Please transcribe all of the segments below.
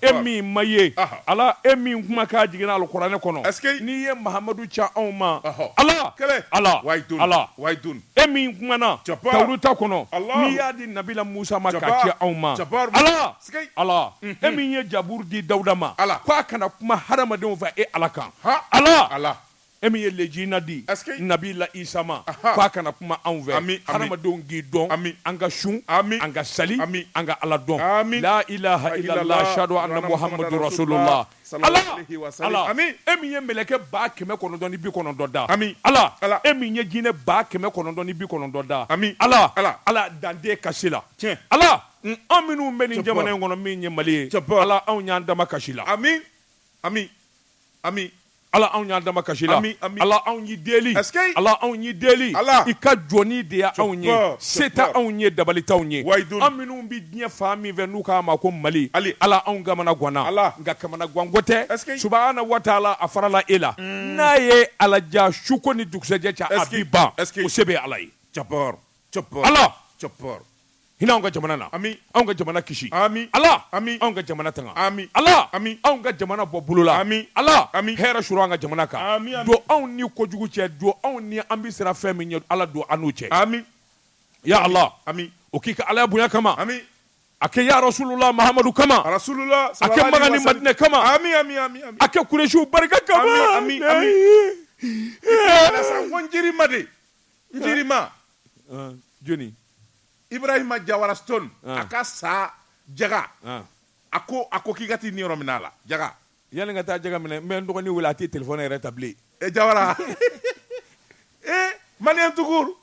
e min ma ye ala e min kumakan jiginna alikuranɛ kɔnɔ n'i ye mahamadu ci anw ma ala ala ala e min kumana tawurata kɔnɔ n'i y'a di nabila musa ma k'a ci anw ma ala ala e min ye jaburu di dawuda ma ala k' a ka na kuma hadamadenw fɛ e ala kan ala ala E min ye lejina di nabila isa ma k' a ka na kuma anw fɛ an adamadenw k'i dɔn an an ka sun an ka sali ami an ka ala dɔn la ilaha illallah ashhadu anna muhammadu rasulullah e min ye mɛlɛkɛ ba kɛmɛ kɔnɔntɔn ni bi kɔnɔntɔn da ami ala ala e min ye jinɛ ba kɛmɛ kɔnɔntɔn ni bi kɔnɔntɔn da ami ala ala ala danden kasi la tiɲɛ ala an minnu bɛ nin jamana in kɔnɔ min ye mali ye tiɲɛ ala anw y'an damakasi i la ami ami ami Ala anw y'an damakasi i la ala anw y'i deli ala anw y'i deli ala i ka jɔni de y' anw ye se tɛ anw ye dabali t'anw ye an minnu bɛ diɲɛ fan min fɛ n'u k'a ma ko mali hali ala anw kamanaganna ala nka kamanaganko tɛ subahana wa taala a farala e la n'a ye ala diya suko ni dugusɛjɛ cɛ a bɛ ban o se bɛ ala ye ala hinɛ anw ka jamana na ami anw ka jamana kisi ami ala ami anw ka jamana tanga ami ala ami anw ka jamana bɔ bolo la ami ala ami hɛrɛ suuru an ka jamana kan don anw ni kojugu cɛ don anw ni an bɛ siran fɛn min ɲɛ ala don an n'u cɛ ami ya ala ami o k'i ka ala bonya kama ami a kɛ ya rasulula mahamadu kama rasulula a kɛ makan ni madinɛ kama ami ami ami a kɛ kuresiw barika kama ami ami njirima de Njirima. An, Jɔni? Ibrahima Jawara Stone, An. a ka san jaga. An. A ko a ko k'i ka t'i niyɔrɔ minɛ a la, jaga. Yanni n ka taa jaga minɛ, n bɛ n dɔgɔnin wele a tɛ telefɔni yɛrɛ ta bilen. E Jawara. Ee, maliyɛn tout court.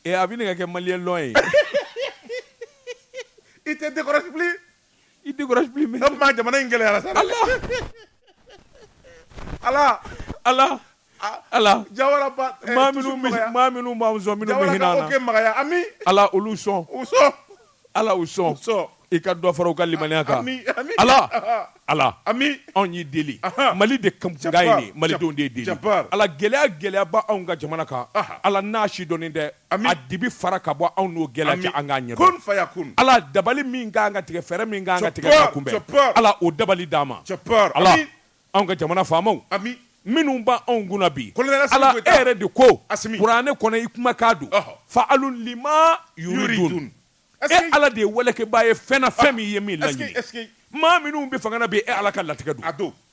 Ee, a bɛ ɲini ka kɛ maliyɛn long ye. I tɛ décrocher bilen. i décroche plus mais donc ma jamana in gɛlɛyara sa ala ala ala ala jawara ba eh, maa minnu maa minnu b'an sɔn minnu bɛ hinɛ an na magaya ami ala olu sɔn u sɔn ala u sɔn sɔn i ka dɔ fara u ka limaniya kan ala ala ami anw y'i deli mali de kan ye nin malidenw de y'i deli ala gɛlɛya gɛlɛya b'anw ka jamana kan ala n'a sidɔnnen tɛ a dibi fara ka bɔ anw n'o gɛlɛya cɛ an k'a ɲɛdɔn ala dabali min kan ka tigɛ fɛɛrɛ min kan ka tigɛ k'a kunbɛn ala o dabali d'an ma ala anw ka jamana faamaw minnu b' anw kunna bi ala e yɛrɛ de ko kuranɛ kɔnɔ i kumakan don fa'alun lima yuridu e ala de ye walekɛbaa ye fɛn o fɛn n'i ye min laɲini maa minnu bɛ fanga na bi e ala ka latigɛ don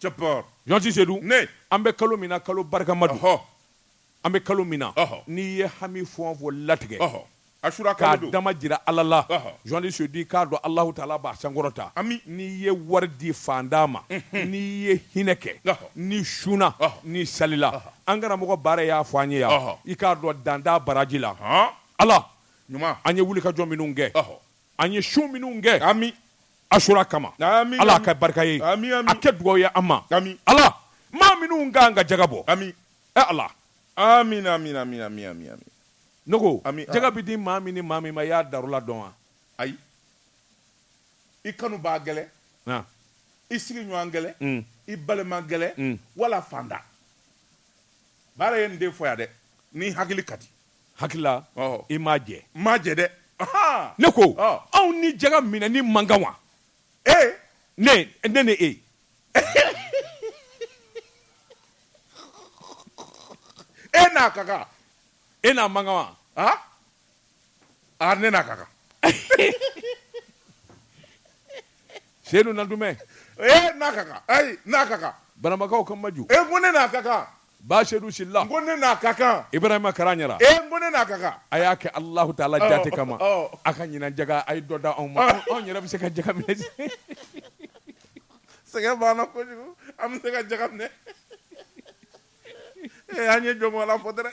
Journaliste sedu an bɛ kalo min na kalo barikama don an bɛ kalo min na n'i ye hami fɔ fɔ latigɛ a su k'a dama jira ala la journaliste sedu i k'a dɔn alahu taala b'a sankɔrɔta n'i ye wari di fantan ma n'i ye hinɛ kɛ n'i sunna n'i salila an karamɔgɔ baara y'a fɔ an ye yan i k'a dɔn dan t'a baraji la ala ɲuman an ye wuli ka jɔ minnu kɛ an ye sun minnu kɛ ami asura kama ami ala ka barika ye ami a kɛ dugawu ye an ma ami ala maa minnu k'an ka jaga bɔ ami e ala amina amina amina amina amina ne ko ami jaga bɛ di maa min ni maa min ma i y'a darura dɔn wa ayi i kanubaa gɛlɛ i sigiɲɔgɔn gɛlɛ mm. i balima gɛlɛ mm. wala fantan baara ye nin de fɔ yan dɛ n'i hakili ka di Hakilila i m'a jɛ m'a jɛ dɛ ne ko anw ni jaga minɛni man kan wa ee ne ne ni e e n'a ka kan e n'a man kan wa aa ne n'a ka kan seyidu nandumɛ e n'a ka kan n'a ka kan banamakaw ka maju e ko ne n'a ka kan Ba seyidu sila ko ne n'a ka kan ibrahima karaɲara e ko ne n'a ka kan a y'a kɛ alahu taala jate kama a ka ɲinan jaga a ye dɔ da anw ma anw yɛrɛ bɛ se ka jaga minɛ sɛgɛn banna kojugu an bɛ se ka jaga minɛ ee an ye jɔn fɔ dɛrɛ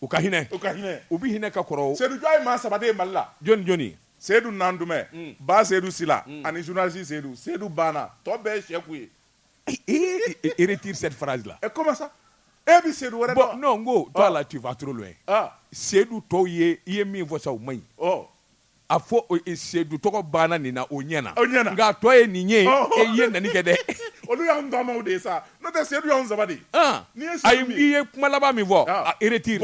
u ka hinɛ u ka hinɛ u bɛ hinɛ ka kɔrɔ sedu jɔn ye maa saba de ye mali la jɔn ni jɔn sedu nandumɛ mm. ba sedu sila mm. ani journaliste sedu sedu banna tɔ bɛɛ ye sɛku ye i retire cette phrase là et comment ça e bɛ sedu wɛrɛ dɔn non n ko toi là ah. tu vas trop loin ah. sedu tɔw ye i ye min fɔ sa o man ɲi oh. A fɔ sedu tɔgɔ banna nin na o ɲɛna nka tɔ ye nin ye e ye naani kɛ dɛ olu y'anw tɔgɔmaw de ye sa n'o tɛ sedu y'anw saba de a i ye kuma laban min fɔ i retire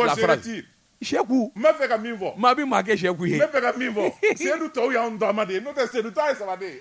sɛku n b'a fɛ ka min fɔ maa bɛ maa kɛ sɛku ye n bɛ fɛ ka min fɔ sedu tɔw y'an tɔgɔma de ye n'o tɛ sedu ye saba ye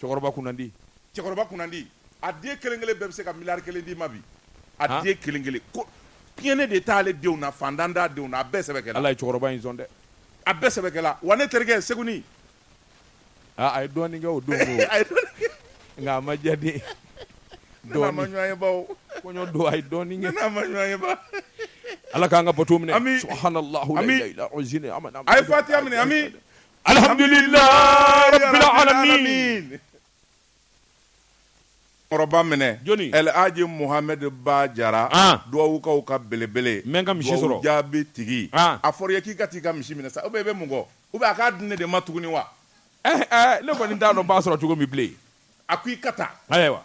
Cɛkɔrɔba kunnandi. Cɛkɔrɔba kunnandi. A den kelen kelen bɛɛ bɛ se ka miliyari kelen d'i ma bi. A den kelen kelen. Ko tiɲɛni de t'ale denw na, fantan t'a denw na, a bɛɛ sɛbɛ kɛla. Ala ye cɛkɔrɔba in sɔn dɛ. A bɛɛ sɛbɛ kɛla. Wa ne terikɛ Seguni. Aa a ye dɔɔni kɛ o don koyi. A ye dɔɔni kɛ. Nka a ma diya den ye. Dɔɔni. Ne n'a ma ɲɔgɔn ye bawo. Kɔɲɔ don a ye dɔɔni kɛ. Ne n'a ma ɲɔgɔn ye ba. Ala k'an ka bato minɛ. Ami. Subahanalahi. Ami. A ye fatiya minɛ. Ami. Alihamdulilahi rabil alamiina kɔrɔba minɛ alaji muhamɛdi ba jara duwawukaw ka belebele n bɛ n ka misi sɔrɔ jaabi tigi a fɔra ye k'i ka taa i ka misi minɛ sa ou bien i bɛ mun kɔ ou bien a k'a di ne de ma tuguni wa ne kɔni t'a dɔn i b'a sɔrɔ cogo min bilen a ko i ka taa ayiwa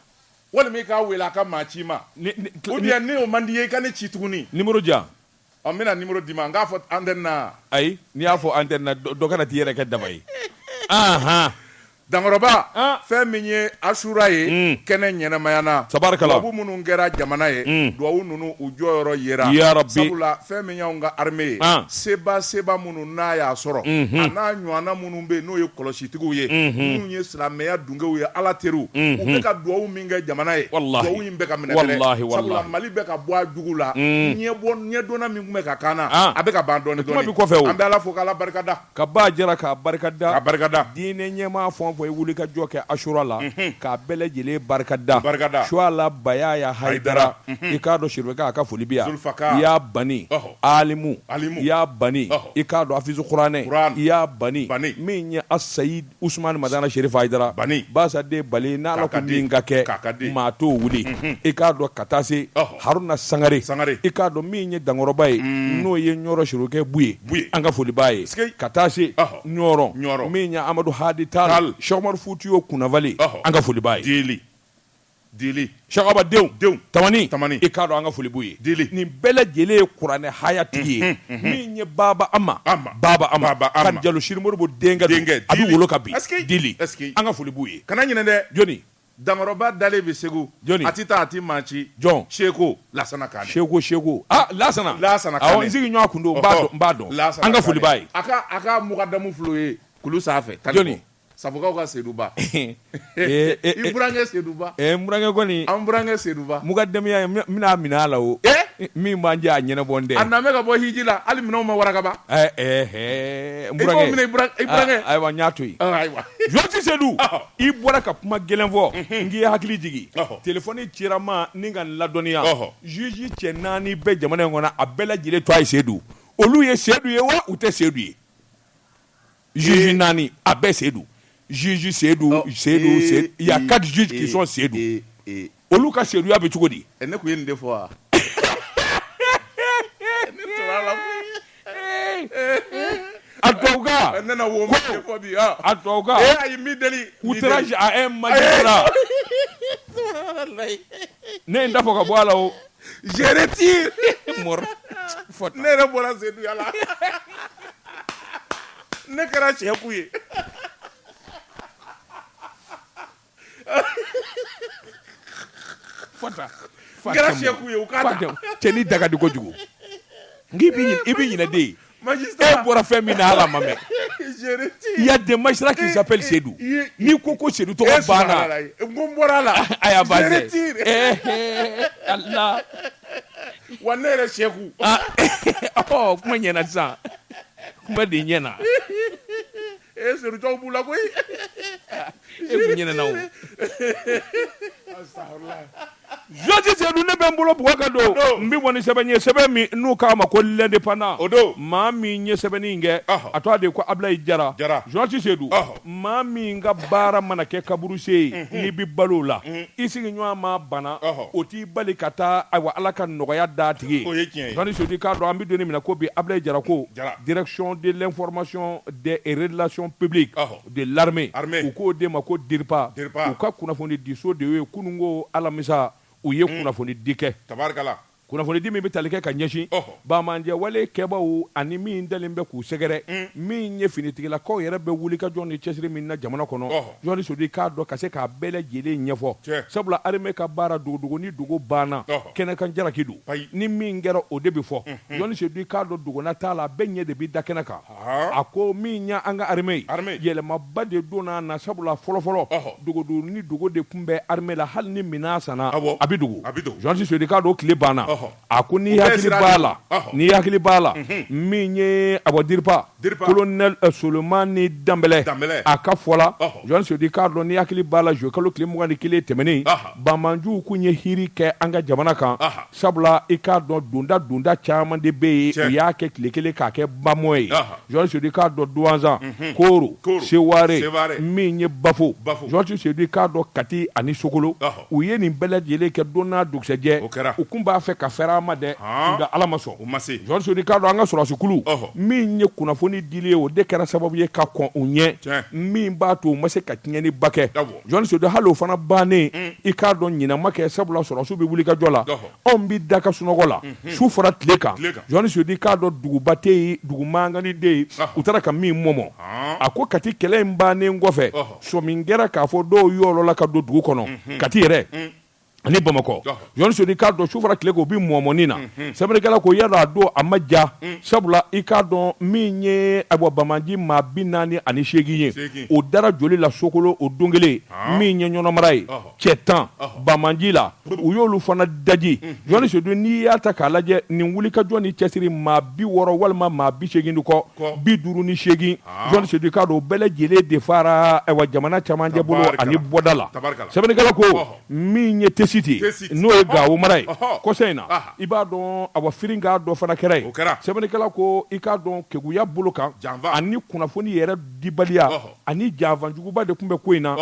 walima i k'a weele a ka maa ci i ma ou bien n'o man di i ye i ka ne ci tuguni Ɔ n bɛna numéro d'i ma n k'a fɔ antenne na wa? Ayi n'i y'a fɔ antenne na dɔ kana t'i yɛrɛ kɛ daba ye. Anhan! Dankɔrɔba, an! fɛn min ye Asura ye, un, kɛnɛ ɲɛnamaya na, tabarikala, duwawu minnu kɛra jamana ye, un, duwawu ninnu u jɔyɔrɔ yera, yarabi, sabula fɛn min y'anw ka armée ye, an, seba seba minnu n'a y'a sɔrɔ, unhun, a n'a ɲɔɔnna minnu bɛ yen n'o ye kɔlɔsitigiw ye, unhun, minnu ye silamɛya dunkew ye Ala teriw, unhun, u bɛ ka duwawu min kɛ jamana ye duwawu in bɛ ka minɛ mali bɛ ka bɔ a jugu la ɲɛdɔnna min tun bɛ ka kaana a bɛ ka ban dɔɔnin dɔɔnin o kɔfɛ an bɛ ala fo k'ala barikada ka ba jara k'a barikada barikada diinɛ ɲɛmaa fɛn o fɛn ye wuli ka jɔ kɛ asura la k'a bɛɛ lajɛlen barikada barikada suwala bayaya hayidara i k'a dɔn siribeka a ka foli bi yan i y'a bani alimu i y'a bani i k'a dɔn afizu kuranɛ i y'a bani min ye asayidi usumani madana sherifu ayidara bani basaden bali n'ala ko min ka kɛ maa t'o wuli mhm. i k'a dɔn ka taa se haruna sangare i k'a dɔn min ye dankɔrɔba ye mm. n'o ye ɲɔrɔ serifukɛ buye an ka foli b'a ye ka taa se ɲɔrɔ min ye amadu hadi tal sɛku umaru futiyu kunnafali an ka foli b'a ye Dili. Sɛki Aba denw. Denw. Tamani. Tamani. I k'a dɔn an ka foli b'u ye. Dili. Nin bɛɛ lajɛlen ye kuranɛ haya tigi ye. Unhun, unhun. Min ye Baaba Ama. Ama. Baaba Ama. Baaba Ama. Kan Jalo Siri Moribo denkɛ don. Denkɛ. A bɛ wolo kan bi. Ɛsikei! Dili. Ɛsikei! An ka foli b'u ye. Kana ɲinɛ dɛ! Jɔni? Dankɔrɔba dalen bɛ Segu. Jɔni? A tɛ taa, a tɛ maa ci. Jɔn? Seko Laasana Kaane. Seko, Seko. Ah, Laasana! Laasana Kaane. Awɔ, n sigiɲɔɔn tun don. Ɔhɔ! N b'a dɔn, n b'a dɔn. Laasana Kaane. An ka foli b'a ye. A ka, a ka mukadamu fil'o ye kulu sanfɛ. Jɔni? Sabukaw ka Seduba. Ee ee ee. I burankɛ Seduba. Ee n burankɛ kɔni. An burankɛ Seduba. Mukadamuya n bɛna minɛ a la o. Ee. Min b'an cɛ a ɲɛnabɔlen tɛ. A nalen bɛ ka bɔ hiji la hali minɛnw ma waraka ban. Ɛɛ ɛɛ hɛɛ. N burankɛ. I b'o minɛ i burankɛ. Aa ayiwa n y'a to yen. Ɔ ayiwa. Jɔji Sedu. Ɔhɔ. I bɔra ka kuma gɛlɛn fɔ. Unhun. N k'i hakili jigin. Ɔhɔ. Telefɔni cira n ma ni ka n ladɔnniya. Ɔhɔ. Juge cɛ naani bɛ jamana in kɔnɔ a bɛɛ lajɛlen tɔɔ ye Sedu. Olu ye Sedu ye wa u tɛ Sedu ye? juge naani a bɛɛ sedu juge sedu sedu sedu il y a quatre juges qui sont sedu olu ka seduya bɛ cogo di ne tun ye nin de fɔ wa a tubabukan ne na wo ma de fɔ bi ah. a tubabukan eh ayi mi délit outrage à un magistrat ne ye n da fɔ ka bɔ a la o Je retire mon mot ne yɛrɛ bɔra Seduya la ne kɛra Sɛku ye fɔta kɛra Sɛku ye u k'a ta cɛ ni daga di kojugu n'i b'i ɲinɛ i b'i ɲinɛ de e bɔra fɛn min na ala ma mɛn il y a des magistrats qui s'appellent Seyidu n'i ko ko Sedu tɔgɔ bɔra la a wa ne yɛrɛ Sɛku kuma ɲɛna sisan kuma de ɲɛna ee Sedu tɔw b'u la koyi e kun ɲinɛna o Jɔnti Sedu ne bɛ n bolo bugɔ ka don n bɛ bɔ ni sɛbɛn ye sɛbɛn min n'u k'a ma ko l'indépendant o don maa min ye sɛbɛnni in kɛ a tɔgɔ de ko Abilayi Jara Jɔnti Sedu maa min ka baara mana kɛ kaburusen ye n'i bɛ balo o la i sigiɲɔgɔn ma bana o t'i bali ka taa ayiwa Ala ka nɔgɔya d'a tigi ye o ye tiɲɛ ye Jɔnti Sedu i k'a dɔn an bɛ don min na ko bi Abilayi Jara ko direction de l'information des relations publiques de l'armée u k'o de ma ko DIRPA u ka kunnafoni diso de ye kunun ko alamisa u ye hmm. kunnafoni di kɛ kunnafoni di min bɛ tali kɛ ka ɲɛsin bamanjɛwale kɛbaaw ani min dalen bɛ k'u sɛgɛrɛ hmm. min ye finitigilakaw yɛrɛ bɛ wulikajɔ ni cɛsiri min na jamana kɔnɔ Jɔnti Sedu i k'a dɔn ka se k'a bɛɛ lajɛlen ɲɛfɔ sabula armée ka baara dogodogo ni dogo banna kɛnɛkan jalaki don ni min kɛra o de bɛ fɔ Jɔnti Sedu i k'a dɔn dogona t'a la a bɛɛ ɲɛ de bɛ da kɛnɛ kan a ko min ye an ka armée yɛlɛmaba de donna a na sabula fɔlɔfɔlɔ dogodo ni dogo de tun bɛ armée la hali ni minɛn sanna a bɛ dogo Jɔnti Sedu i k'a dɔn tile banna a ko n'i hakili b'a la n'i hakili b'a la min ye a bɔ DIRPA colonel Solomani Danbɛlɛ a ka fɔ la Jɔnti Sedu i k'a dɔn n'i hakili b'a la zuye kalo tile mugan ni kelen tɛmɛnen banmanjuw kun ye hiri kɛ an ka jamana kan Sabula i k'a dɔn donda donda caman de bɛ yen u y'a kɛ tile kelen k'a kɛ bamɔ ye Jɔnti Sedu i k'a dɔn Duwanzan Koro Seware min ye Bafo Jɔnti Sedu i k'a dɔn Kati ani Sokolo u ye nin bɛɛ lajɛlen kɛ don n'a dugusɛjɛ u kun b'a fɛ ka fɛrɛ ma dɛ nka ala ma sɔn u ma se Jɔnti Sedu i k'a dɔn an ka sɔrɔdasikulu min ye kunnafoni dili ye o de kɛra sababu ye ka kɔn u ɲɛ min b'a to u ma se ka tiɲɛni ba kɛ Jɔnti Sedu hali o fana bannen i k'a dɔn ɲinɛ ma kɛ sabula sɔrɔdasiw bɛ wulikajɔ la anw bɛ da ka sunɔgɔ la su fara tile kan Jɔnti Sedu i k'a dɔn duguba tɛ yen dugu mangani tɛ yen u taara ka min mɔmɔ a ko Kati kɛlɛ in bannen kɔfɛ sɔmi kɛra k'a fɔ dɔw yɔlɔla ka don dugu kɔnɔ Kati yɛrɛ ani bamakɔ jɔn sedu i k'a dɔn su fara tile kan u bɛ mɔmɔni na mhm. sɛbɛnnikɛla ko yala a don a ma ja mm. sabula i k'a dɔn min ye ayiwa banbaanci maa bi naani ani seegin ye o dara joli la sokolo o don kelen ah. min ye ɲɔnɔ mara ye cɛ tan banbaanci la u y'olu fana daji mhm. jɔn sedu n'i y'a ta k'a lajɛ nin wulikajɔ ni cɛsiri maa bi wɔɔrɔ walima maa bi seegin de kɔ bi duuru ni seegin ah. jɔn sedu i k'a dɔn o bɛɛ lajɛlen de faara ayiwa jamana camancɛ bolo ani bɔda la sɛbɛnnikɛla ko min ye tesiti n'o ye gawo mara ye kɔsa in na i b'a dɔn awa firikan dɔ fana kɛra yen sɛbɛnnikɛla ko i k'a dɔn keguya bolo kan janfa ani kunnafoni yɛrɛ dibaliya ani janfa juguba de tun bɛ ko in na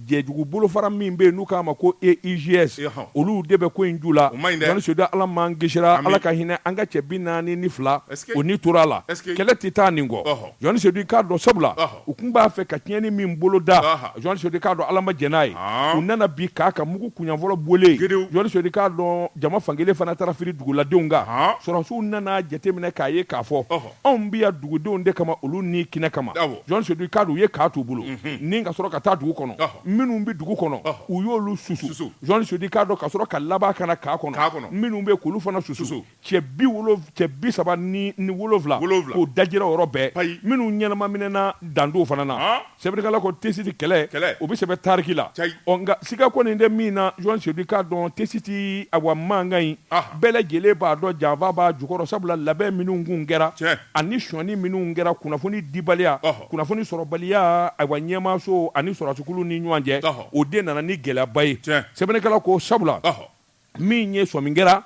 jɛjugu bolofara min bɛ yen n'u k'a ma ko EIGS olu de bɛ ko in ju la sedu ala m'an kisira ala ka hinɛ an ka cɛ bi naani ni fila u ni tora a la kɛlɛ tɛ taa nin kɔ jɔn sedu i k'a dɔn sabula u tun b'a fɛ ka tiɲɛni min bolo da jɔn sedu i k'a dɔn ala ma jɛn n'a ye u nana bin kan kan mugu kunfɔlɔ bɔlen jɔn sedu i k'a dɔn jama fankelen fana taara firi duguladenw kan sɔrɔdasiw nana jateminɛ k'a ye k'a fɔ anw bɛ yan dugudenw de kama olu ni kɛnɛ kama jɔn sedu i k'a dɔn u ye kan t'u bolo ni ka sɔrɔ ka taa dugu kɔnɔ minnu bɛ dugu kɔnɔ u y'olu susu jɔn sedu i k'a dɔn ka sɔrɔ ka laban ka na kan kɔnɔ minnu bɛ k'olu fana susu cɛ bi wolo cɛ bi saba ni ni wolonwula Wolonwula. k'o dajira o yɔrɔ bɛɛ Payi. minnu ɲɛnama minɛna dandɔw fana na Han. sɛbɛnnikɛla ko tesiti kɛlɛ Kɛlɛ. o bɛ sɛbɛn tariki la Cayi. ɔ nka siga kɔni tɛ min na jɔn sedu i k'a dɔn tesiti awa mankan in Aha. bɛɛ lajɛlen b'a dɔn janfa b'a jukɔrɔ sabula labɛn minnu kun kɛra Tiɲɛ. ani sɔnni minnu kɛra kunnafoni dibaliya Ɔhɔ. kunnafoni sɔrɔbaliya awa ɲɛmaaso ani sɔrɔdasikuluw ni ɲɔgɔn cɛ Ɔhɔ. o de nana ni gɛlɛyaba ye Tiɲɛ. sɛbɛnnikɛla ko sabula Ɔhɔ. min ye sɔmi kɛra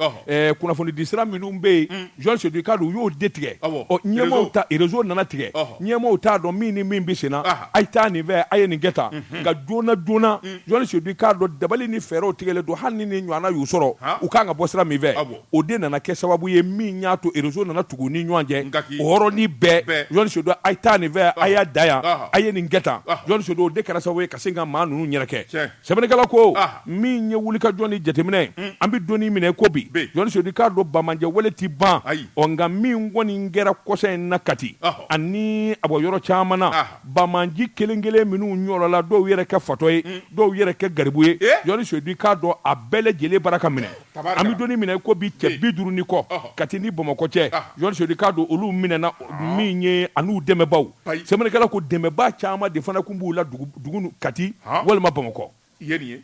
kunnafoni disira minnu bɛ yen mm. jɔn sedu k'a dɔn u y'o de tigɛ ɲɛmaaw ta rezo nana tigɛ ɲɛmaaw t'a dɔn min ni min bɛ senna a ye taa nin fɛ a ye nin kɛ tan mhm. nka joona joona mm. jɔn sedu k'a dɔn dabali ni fɛɛrɛw tigɛlen don hali ni nin ɲɔgɔnna y'u sɔrɔ u kan ka bɔ sira min fɛ o de nana kɛ sababu ye min y'a to rezo nana tugu u ni ɲɔgɔn cɛ o yɔrɔnin bɛɛ jɔn sedu a ye taa nin fɛ a y'a da yan a ye nin kɛ tan jɔn sedu o de kɛra sababu ye ka se ka maa ninnu yɛrɛkɛ Sɛbɛnnikɛla ko min ye wulikajɔ ni jateminɛ an bɛ don min na i ko bi jɔnni sedu i k'a dɔn banbaanciya wale tɛ ban ɔ nka min kɔni kɛra kɔsa in na kati ani a bɔ yɔrɔ caman na banbaanci kelen kelen minnu ɲɔgɔnla dɔw yɛrɛ kɛ fatɔ ye dɔw yɛrɛ kɛ garibu ye jɔnni sedu i k'a dɔn a bɛɛ lajɛlen bara ka minɛ Tabarikala. An bɛ don min na i ko bi cɛ Bi. 50 ni kɔ, ɔhɔ. Kati ni Bamakɔ cɛ, Ɔhɔ. Jɔn Sedu i k'a dɔn olu minɛna min ye an'u dɛmɛbaaw, Bayi. sɛbɛnnikɛla ko dɛmɛbaa caman de fana tun b'u la dugu dugu nu Kati Ɔhɔ. walima Bamakɔ. I ye nin ye.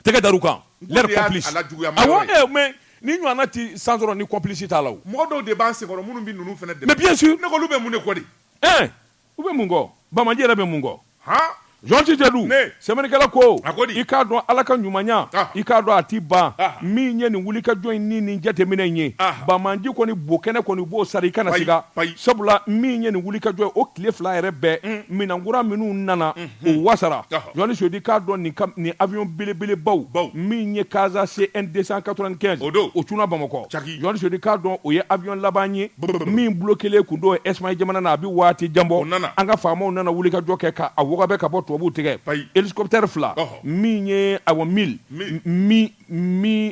Tɛgɛ dar'u kan. N ko Leur de y'a complice. a lajuguya ma yɔrɔ Awɔ, ye. ee, mais nin ɲɔgɔnna tɛ sen sɔrɔ ni complice t'a la o. Mɔgɔ dɔw de b'an senkɔrɔ minnu bɛ ninnu fana dɛmɛ. Mais bien sûr. Ne ko olu bɛ mun de kɔ de? Ɛɛ! U bɛ mun kɔ bamaji yɛrɛ bɛ mun kɔ jɔn si tɛ dɔn sɛbɛnnikɛla ko i k'a dɔn ala ka ɲumanya i k'a dɔn a tɛ ban min ye nin wulikajɔ in ni nin jateminɛ in ye bamaji kɔni bo kɛnɛ kɔni b'o sara i kana siga sabula min ye nin wulikajɔ o tile fila yɛrɛ bɛɛ minɛn kura minnu nana o wasara jɔni Seydou i k'a dɔn nin avion belebelebaw min ye Casa CN 295 o cunna bamakɔ Jɔni Seydou i k'a dɔn o ye avion laban ye min bloquélen tun don Espagne jamana na a bɛ waati jan bɔ an ka faamaw nana wulikajɔ kɛ k'a wɔgɔbɛ ka bɔ tubabuw tigɛ hélicoptère fila min ye awɔ Mi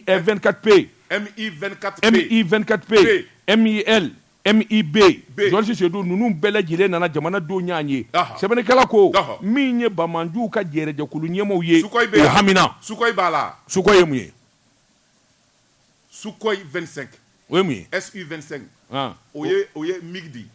24P Mi 24P Mil Mi jɔni Seydou ninnu bɛɛ lajɛlen nana jamanadenw y'a ye sɛbɛnnikɛla ko min ye banbaganciw ka jɛrɛjɛkulu ɲɛmaaw ye o hamina Sukhoi b'a la Sukhoi ye mun ye Sukhoi 25 o ye mun ye SU 25 han o ye o ye MiG de ye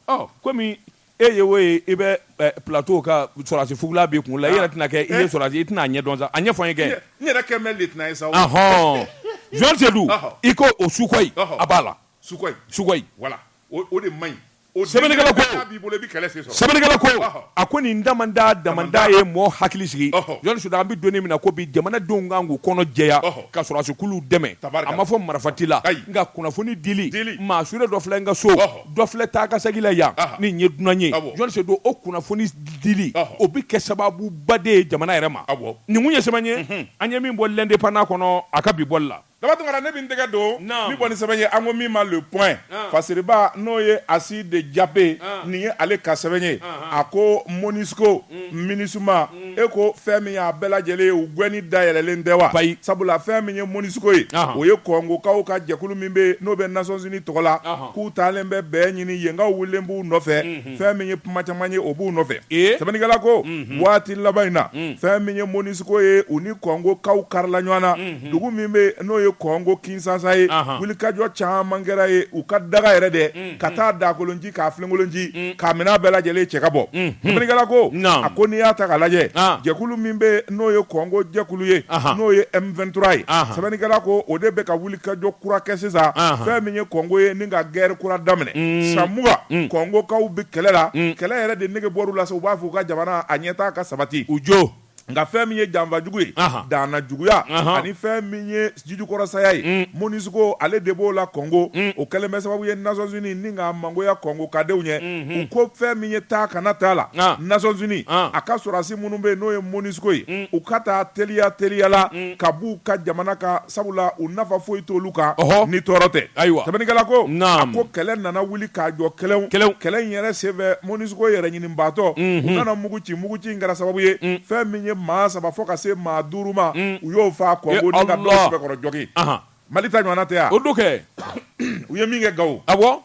ɔ komi e ye o ye i bɛ plateau kan sɔrɔdasi fugula b'i kun la i yɛrɛ tɛna kɛ i ye sɔrɔdasi i tɛna a ɲɛdɔn sa a ɲɛfɔ n ye kɛ n yɛrɛ kɛ mɛ lieutenant ye sa ɔhɔn jɔni Seydou i ko o Sukhoi a b'a la Sukhoi Sukhoi voilà o de man ɲi sɛbɛnnikɛla ko n'a b'i bolo i bɛ kɛlɛ sen sɔrɔ. sɛbɛnnikɛla ko Ɔhɔ. a ko nin damanda damanda ye mɔɔ hakili sigi Ɔhɔ. jɔni Seydou an bɛ donni min na ko bi jamanadenw kan k'u kɔnɔ jɛya Ɔhɔ. ka sɔrɔdasikuluw dɛmɛ Tabarikala. a ma fɔ marafati la Ayi. nka kunnafoni dili Dili. maa sure dɔ filɛ n ka so Ɔhɔ. dɔ filɛ taakasegin la yan Aha. nin ye dunan ye Awɔ. jɔni Seydou o kunnafoni dili Ɔhɔ. o bɛ kɛ sababuba de ye jamana yɛrɛ ma Awɔ. nin kun ye sɛbɛn ye an ye min bɔ l'Indépendant kɔnɔ a ka bi bɔli la Daba Tunkara ne bɛ n tɛgɛ don min bɔ ni sɛbɛn ye an ko min ma le point fasiriba n'o ye Assi de Diapé nin ye ale ka sɛbɛn ye a ko Monusco Minusma e ko fɛn min y'a bɛɛ lajɛlen ye u gɛnni dayɛlɛlen tɛ wa? Ayi sabula fɛn min ye Monusco ye o ye kɔngokaw ka jɛkulu min bɛ n'o bɛ Nations Unies tɔgɔ la k'u taalen bɛ bɛn ɲini yenkaw wulilen b'u nɔfɛ fɛn min ye kuma caman ye o b'u nɔfɛ sɛbɛnnikɛla ko waati laban in na fɛn min ye Monusco ye u ni kɔngokaw karila ɲɔgɔn na. dugu min bɛ n'o ye kɔngo Kinshasa ye wulikajɔ caman kɛra yen u ka dagayɔrɔ dɛ ka taa dakolon ci ka filenkolon ci ka minɛn bɛɛ lajɛlen cɛ ka bɔ sɛbɛnnikɛla ko a ko n'i y'a ta k'a lajɛ jɛkulu min bɛ n'o ye kɔngo jɛkulu ye n'o ye M23 ye sɛbɛnnikɛla ko o de bɛ ka wulikajɔ kura kɛ sisan fɛn min ye kɔngo ye ni ka gɛrɛ kura daminɛ san mugan kɔngokaw bɛ kɛlɛ la kɛlɛ yɛrɛ de nege bɔr'u la sa u b'a fɔ u ka jamana a ɲɛtaa ka sabati u jo nka fɛn min ye janfajugu ye danna juguya ani fɛn min ye jijukɔrɔsaya ye mm. mɔnisuko ale de b'o la kɔngo mm. o kɛlen bɛ sababu ye nasɔnsini ni ka mangoya kɔngo kadenw ye mm-hmm. u ko fɛn min ye taa kana taa la nasɔnsini a ka sɔrɔdasi minnu bɛ yen n'o ye mɔnisuko ye mm. u ka taa teliya teliya la ka b'u ka jamana kan sabula u nafa foyi t'olu kan ni tɔɔrɔ tɛ ayiwa sɛbɛnnikɛla ko a ko kɛlɛ nana wulikajɔ kɛlaw kɛlɛ in yɛrɛ senfɛ mɔnisuko yɛrɛ ɲini baatɔ u nana mugu ci mugu ci kɛra sababu ye fɛn min ye maa saba fo ka se maa duuru ma u y'o faa kɔngo ni ka dɔ sɛbɛkɔrɔ jogin mali ta ɲɔgɔnna tɛ yan o don kɛ u ye min kɛ gawo awɔ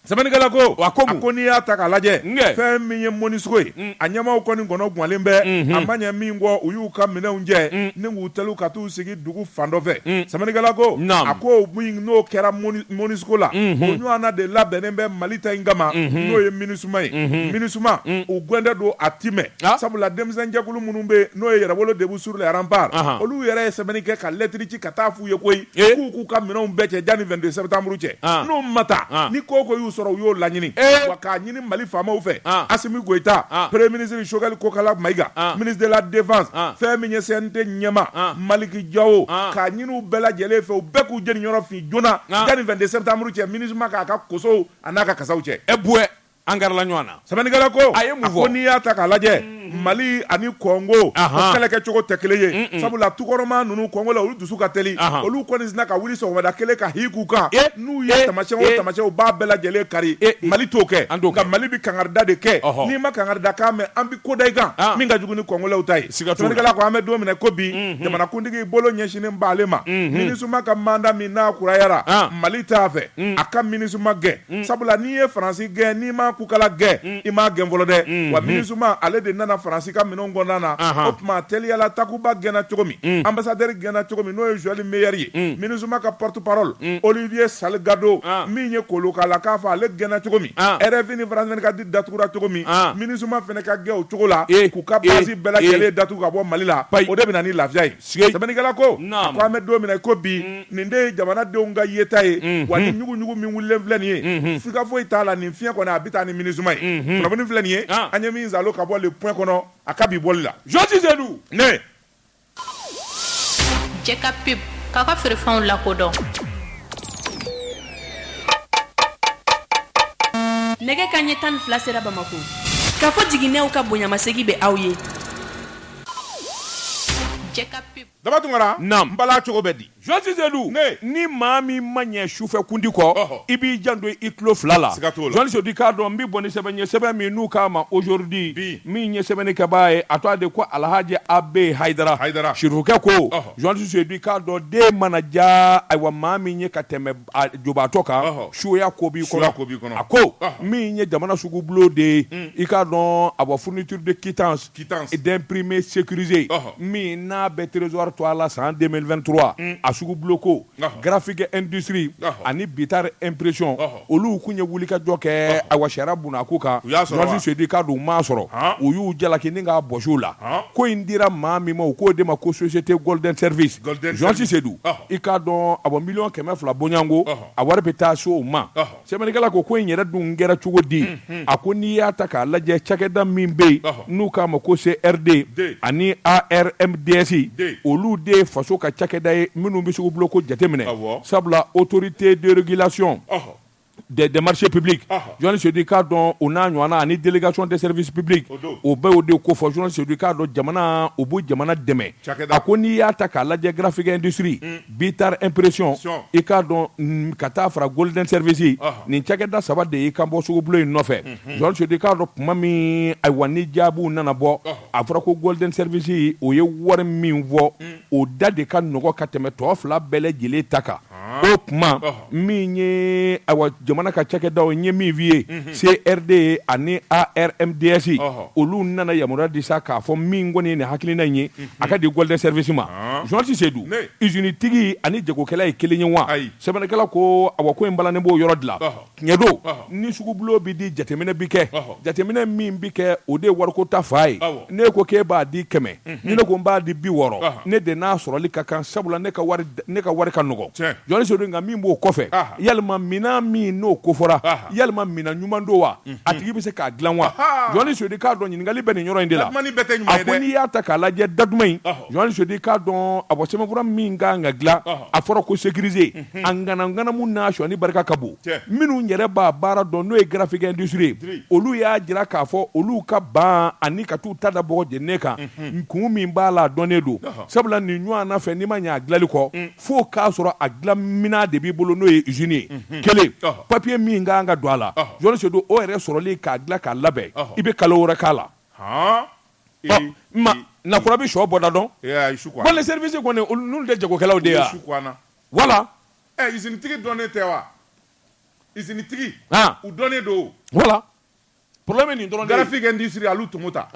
sɛbɛnnikɛla ko a ko ko n'i y'a ta k'a lajɛ fɛn min ye mɔnisuko ye mm. a ɲɛmaaw kɔni kɔnɔ gwanlen bɛ mm-hmm. a ma ɲɛ min kɔ u y'u ka minɛnw cɛ mm. ni k'u teliya ka taa u sigi dugu fan dɔ fɛ mm. sɛbɛnnikɛla ko a ko min n'o kɛra mɔnisuko la mhm. o ɲɔgɔnna de labɛnnen bɛ mali ta in kama mhm. n'o ye minisuma ye mhm. minisuma mm. u gwɛndɛ don a ti mɛn ah. sabula denmisɛnjɛkulu minnu bɛ n'o ye yɛrɛwolo debout sur les remparts olu yɛrɛ ye sɛbɛnni kɛ ka lɛtiri ci ka taa f'u ye koyi eh. k'u k'u ka minɛnw bɛɛ cɛ janni 22 sɛtanburu cɛ ah. n'u ma taa ah. ni ko o ko y'u sɔrɔ u y'o laɲini eh. ɲini Mali faamaw fɛ, an, Asimi Goyita, an, Premier ministre Choguel Kokala Mayiga, an, ministre de la défense, an, fɛn min ye CNT ɲɛmaa, an, Maliki Jawo, an, k'a ɲini u bɛɛ lajɛlen fɛ, u bɛɛ k'u jeniyɔrɔ fin joona, an, janni 22 septembre cɛ, Minusma k'a ka kosow an'a ka kasaw cɛ. Ɛ buwɛ, an garila ɲɔgɔn na. Sɛbɛnnikɛla ko a ko n'i y'a ta k'a lajɛ, mali ani kɔngo o kɛlɛkɛcogo tɛ kelen ye sabula tukɔrɔmaa ninnu kɔngolɛ olu dusu ka teli olu kɔni sina ka wuli sɔgɔmada kelen ka hi k'u kan n'u ye tamasiyɛn o tamasiyɛn u b'a bɛɛ lajɛlen kari mali t'o kɛ nka mali bɛ kangarida de kɛ n'i ma kangarida kan mɛn an bɛ ko da i kan min ka jugu ni kɔngolɛw ta ye sɛbɛnnikɛla ko an bɛ don min na ko bi jamanakuntigi bolo ɲɛsinnen b'ale ma minisima ka manda min n'a kurayara mali t'a fɛ a ka minisima gɛn sabula n'i ye faransi gɛn n'i ma kukala gɛn i m'a gɛn fɔlɔ dɛ, unhun, wa Minusima ale de nana Faransi ka minɛnw kɔnɔna na, anhan, o tuma teliya la Takuba gɛnna cogo min, un, ambassadeur gɛnna cogo min n'o ye Joël Meyer ye, un, Minusima ka porte parole, un, Olivier Salgado, an, min ye Kolokala k'a fɔ ale gɛnna cogo min, an, RFI ni France 24 datugura cogo min, an, Minusima fɛnɛ ka gɛn o cogo la, ee, k'u ka base ee, bɛɛ lajɛlen ee, datugu ka bɔ Mali la, payi, o de bɛ na ni lafiya ye. sɛbɛnnikɛla ko a ko an bɛ don min na ko bi mm. nin de ye jamanadenw ka yeta ye mm-hmm. wa ni ɲuguɲugu min wulilen filɛ nin ye mm-hmm. siga foyi t'a la nin fiɲɛ kɔni a bɛ taa ni minisuma ye mm-hmm. kunnafoni filɛ nin ye ah. an ye min zalo ka bɔ le point kɔnɔ a ka bi bɔli la jɔsi sedu ne jɛ ka pep k'a ka feerefɛnw lakodɔn nɛgɛkanɲɛ tan ni fila sera bamakɔ k'a fɔ jiginnenw ka bonyamasegin bɛ aw ye Daba Tunkara nba la cogo bɛ di journaliste Sedu ni maa min ma ɲɛ sufɛ kundi kɔ i b'i janto i tulo fila la journaliste Sedu i k'a dɔn n bɛ bɔ ni sɛbɛn ye sɛbɛn min n'u k'a ma Aujourd'hui min ye sɛbɛnnikɛbaa ye a tɔgɔ de ko Alhaji A B Haidara sirifukɛ ko journaliste Sedu i k'a dɔn den mana diya ayiwa maa min ye ka tɛmɛ jubaatɔ kan suya ko b'i kɔnɔ a ko min ye jamana sugu bulon de ye i k'a dɔn a bɔ fourniture de quitta quittance d'imprimé sécurisé ɔhɔ. min n'a bɛ trésor to a la san 2023 a sugu bulon ko Ɔhɔ. graphique industrie Ɔhɔ. ani bitar impression Ɔhɔ. olu kun ye wulikajɔ kɛ ayiwa sariya bunna ko kan U y'a sɔrɔ wa? journaliste Sedu i k'a dɔn u m'a sɔrɔ Han. u y'u jalaki ni k'a bɔsi u la Han. ko in dira maa min ma u k'o de ma ko société golden service Golden Service. journaliste Sedu Ɔhɔ. i k'a dɔn awɔ miliyɔn kɛmɛ fila bɔɲɔgɔnko Ɔhɔ. a wari bɛ taa se o ma Ɔhɔ. Sɛbɛnnikɛla ko ko in yɛrɛ dun kɛra cogo di a ko n'i y'a ta k'a lajɛ cakɛda min bɛ yen n'u k'a ma ko CRD ani ARMDS olu de ye faso ka cakɛda ye minnu bɛ sugu bulon ko jateminɛ sabula autorité de régulation des marchés publics journaliste Sedu i k'a dɔn o n'a ɲɔgɔnna ani délégation des services publics o bɛ o de kofɔ journaliste Sedu i k'a dɔn jamana o bɛ jamana dɛmɛ a ko n'i y'a ta k'a lajɛ graphique industrie Bitar impression i k'a dɔn ka taa fara golden service ɔhɔ nin cakɛda 3 de y'i kanbɔ sugubulon in nɔfɛ unhun journaliste Sedu i k'a dɔn tuma min ayiwa ni jaabiw nana bɔ ɔhɔ a fɔra ko golden service o ye wari min fɔ un o da de ka nɔgɔ ka tɛmɛ tɔ 2 bɛɛ lajɛlen ta kan haan o tuma ɔhɔ min ye ayiwa jamana ka cakɛdaw ye min f'i ye CRD ani ARMDS olu nana yamaruya di sa k'a fɔ min kɔni ye nin hakilina in ye a ka di golden service ma journaliste Sedu usine tigi ani jagokɛla ye kelen ye wa sɛbɛnnikɛla ko ayiwa ko in balannen b'o yɔrɔ de la tiɲɛ don ni sugu bulon bɛ di jateminɛ bɛ kɛ jateminɛ min bɛ kɛ o de ye wariko ta fan ye ne ko k'e b'a di kɛmɛ ni ne ko n b'a di bi wɔɔrɔ ne de n'a sɔrɔli ka kan sabula ne ka wari ka nɔgɔ journaliste Sedu nka min b'o kɔfɛ yalima minɛn min n'o kofɔra yalima minɛn ɲuman don wa a tigi bɛ se k'a dilan wa journaliste Sedu i k'a dɔn ɲininkali bɛ nin yɔrɔ in de la a ko n'i y'a ta k'a lajɛ datuma in journaliste Sedu i k'a dɔn a bɔ sɛbɛnfura min ka kan ka dilan a fɔra ko sécurisé a ŋanamu n'a sɔnni barika ka bon minnu yɛrɛ b'a baara dɔn n'o ye graphique industrie olu y'a jira k'a fɔ olu ka ban ani ka taa u ta da bɔgɔ jeninen kan kun min b'a la a dɔnnen don sabula nin ɲɔgɔn fɛn n'i ma y'a dilanli kɔ fo k'a sɔrɔ a dilanminɛn de b'i bolo n'o ye usine ye kelen papiye min ka kan ka don a la journaliste Sedu o yɛrɛ sɔrɔli k'a dilan k'a labɛn i bɛ kalo wɛrɛ k'a la na kura bɛ shɔ bɔda dɔn golden service kɔni n' tɛ jagokɛlaw de ye voilà ɛ izinitigi dɔnnen tɛ wa izinitigi u dɔnnen don voilà problème nin don graphique industrie Alou Tomota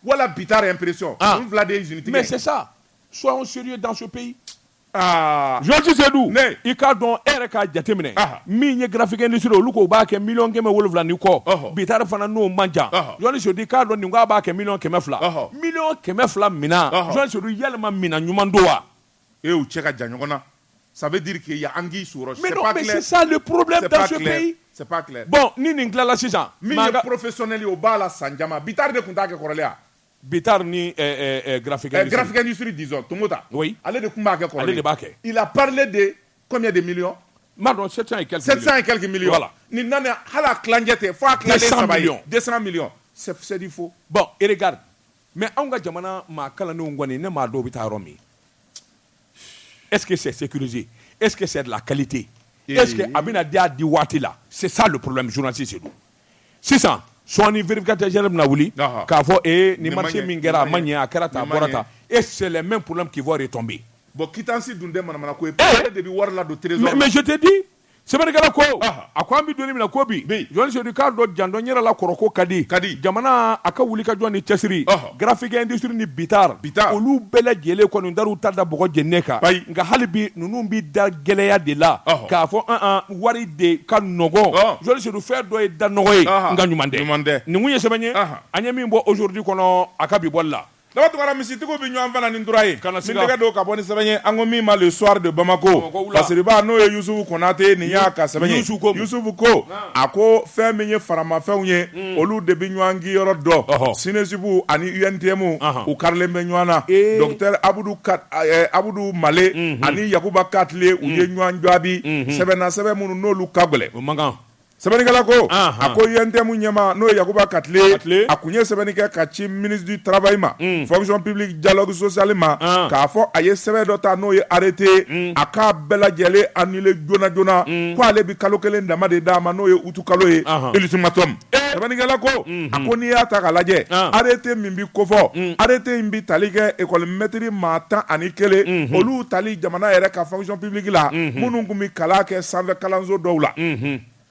voilà Bittar impression u fila de ye izinitigi mais c'est ça soyons sérieux dans ce pays journaliste Seydou i k'a dɔn e yɛrɛ k'a jateminɛ min ye graphique industrie olu ko u b'a kɛ miliyɔn kɛmɛ wolonwula ni kɔ Bittar fana n'o man jan journaliste Seydou i k'a dɔn nin k'a b'a kɛ miliyɔn kɛmɛ fila miliyɔn kɛmɛ fila minan journaliste Seydou yalima minan ɲuman don wa E y'u cɛ ka jan ɲɔgɔn na ça veut dire que il y'a anguille sous roche, c'est pas clair, mais non, mais c'est ça le problème dans ce pays, c'est pas clair, bon ni nin tilala sisan, min ye professionnel ye o b'a la san caman, Bittar de tun t'a kɛ kɔrɔlen wa? Bittar ni eh, eh, eh, graphique industrie, graphique industrie disons Tomota, oui, ale de tun b'a kɛ kɔrɔlen, ale de b'a kɛ, il a parlé de combien de millions? N m'a dɔn 700 et quelques millions, 700 et quelques millions, voilà, nin nalen hali a tilancɛ tɛ, fo a tilalen saba ye, 200 millions, 200 millions, c'est du faux, bon et regarde Mɛ anw ka jamana maa kalandenw kɔni ne maa dɔw bɛ taa yɔrɔ min ese seluse ese sarila kalilite ese a bɛna di di waati la sisan porolensi se sisan sɔɔni bereerekaja bɛna wuli k'a fɔ e ni ma min kɛra a ma ɲɛ a kɛra taa bɔra ta e sɛ mɛ porolen k'ifɔ de tɔn bɛ yen bɔn kisi dun tɛ ko de bɛ wari la don mɛ mɛtedi sɛbɛnnikɛla ko a ko an bɛ doni min na ko bi journaliste Seydou k'a dɔn janto an yɛrɛ la kɔrɔko ka di kadi jamana a ka wuli k'a jɔ ni cɛsiri graphique industrie ni Bittar olu bɛɛ lajɛlen kɔni dar'u ta da bɔgɔ jenne kan nka hali bi ninnu bi da gɛlɛya de la k'a fɔ an wari de ka nɔgɔn journaliste Seydou feere dɔ ye da nɔgɔ ye nka ɲuman tɛ nin kun ye sɛbɛn ye an ye min bɔ aujourd'hui kɔnɔ a ka bi bɔli la Daba Tunkara misitigiw bɛ ɲɔgɔn fana ni tura ye, kana siga, n bɛ n tɛgɛ don ka bɔ ni sɛbɛn ye an ko min ma le soir de Bamako, Bamako wula, lasiriba n'o ye Yusufu Konate nin y'a ka sɛbɛn ye, Yusu ko mun? Yusufu ko, naamu, a ko fɛn min ye faramafɛnw ye, un, olu de bɛ ɲɔgɔn kinyɔrɔ dɔn, ɔhɔ, SNESUP ani UNTM, anhan, u karilen bɛ ɲɔgɔn na, ee, docteur Abudu Kat ɛɛ Abudu Male, unhun, ani Yakuba Katile, u ye ɲɔgɔn jaabi, unhun, sɛbɛnnasɛbɛn minnu n'olu ka gɛlɛn, o man kan. Sɛbɛnnikɛla ko, anhan, a ko UNTM ɲɛmaa n'o ye Yakuba Katile, Katile, a kun ye sɛbɛnni kɛ ka ci ministre du travail ma, un, fonction publique dialogue social ma, an, k'a fɔ a ye sɛbɛn dɔ ta n'o ye arrêté ye, un, a k'a bɛɛ lajɛlen annuler joona joona, un, ko ale bɛ kalo kelen dama de d'a ma n'o ye août kalo ye, anhan, ultimatum, ee, sɛbɛnnikɛla ko, unhun, a ko n'i y'a ta k'a lajɛ, an, arrêté min bɛ kofɔ, un, arrêté in bɛ tali kɛ école maître maa tan ani kelen, unhun, olu tali jamana yɛrɛ ka fonction publique la minnu tun bɛ kalan kɛ sanfɛ kalanso dɔw la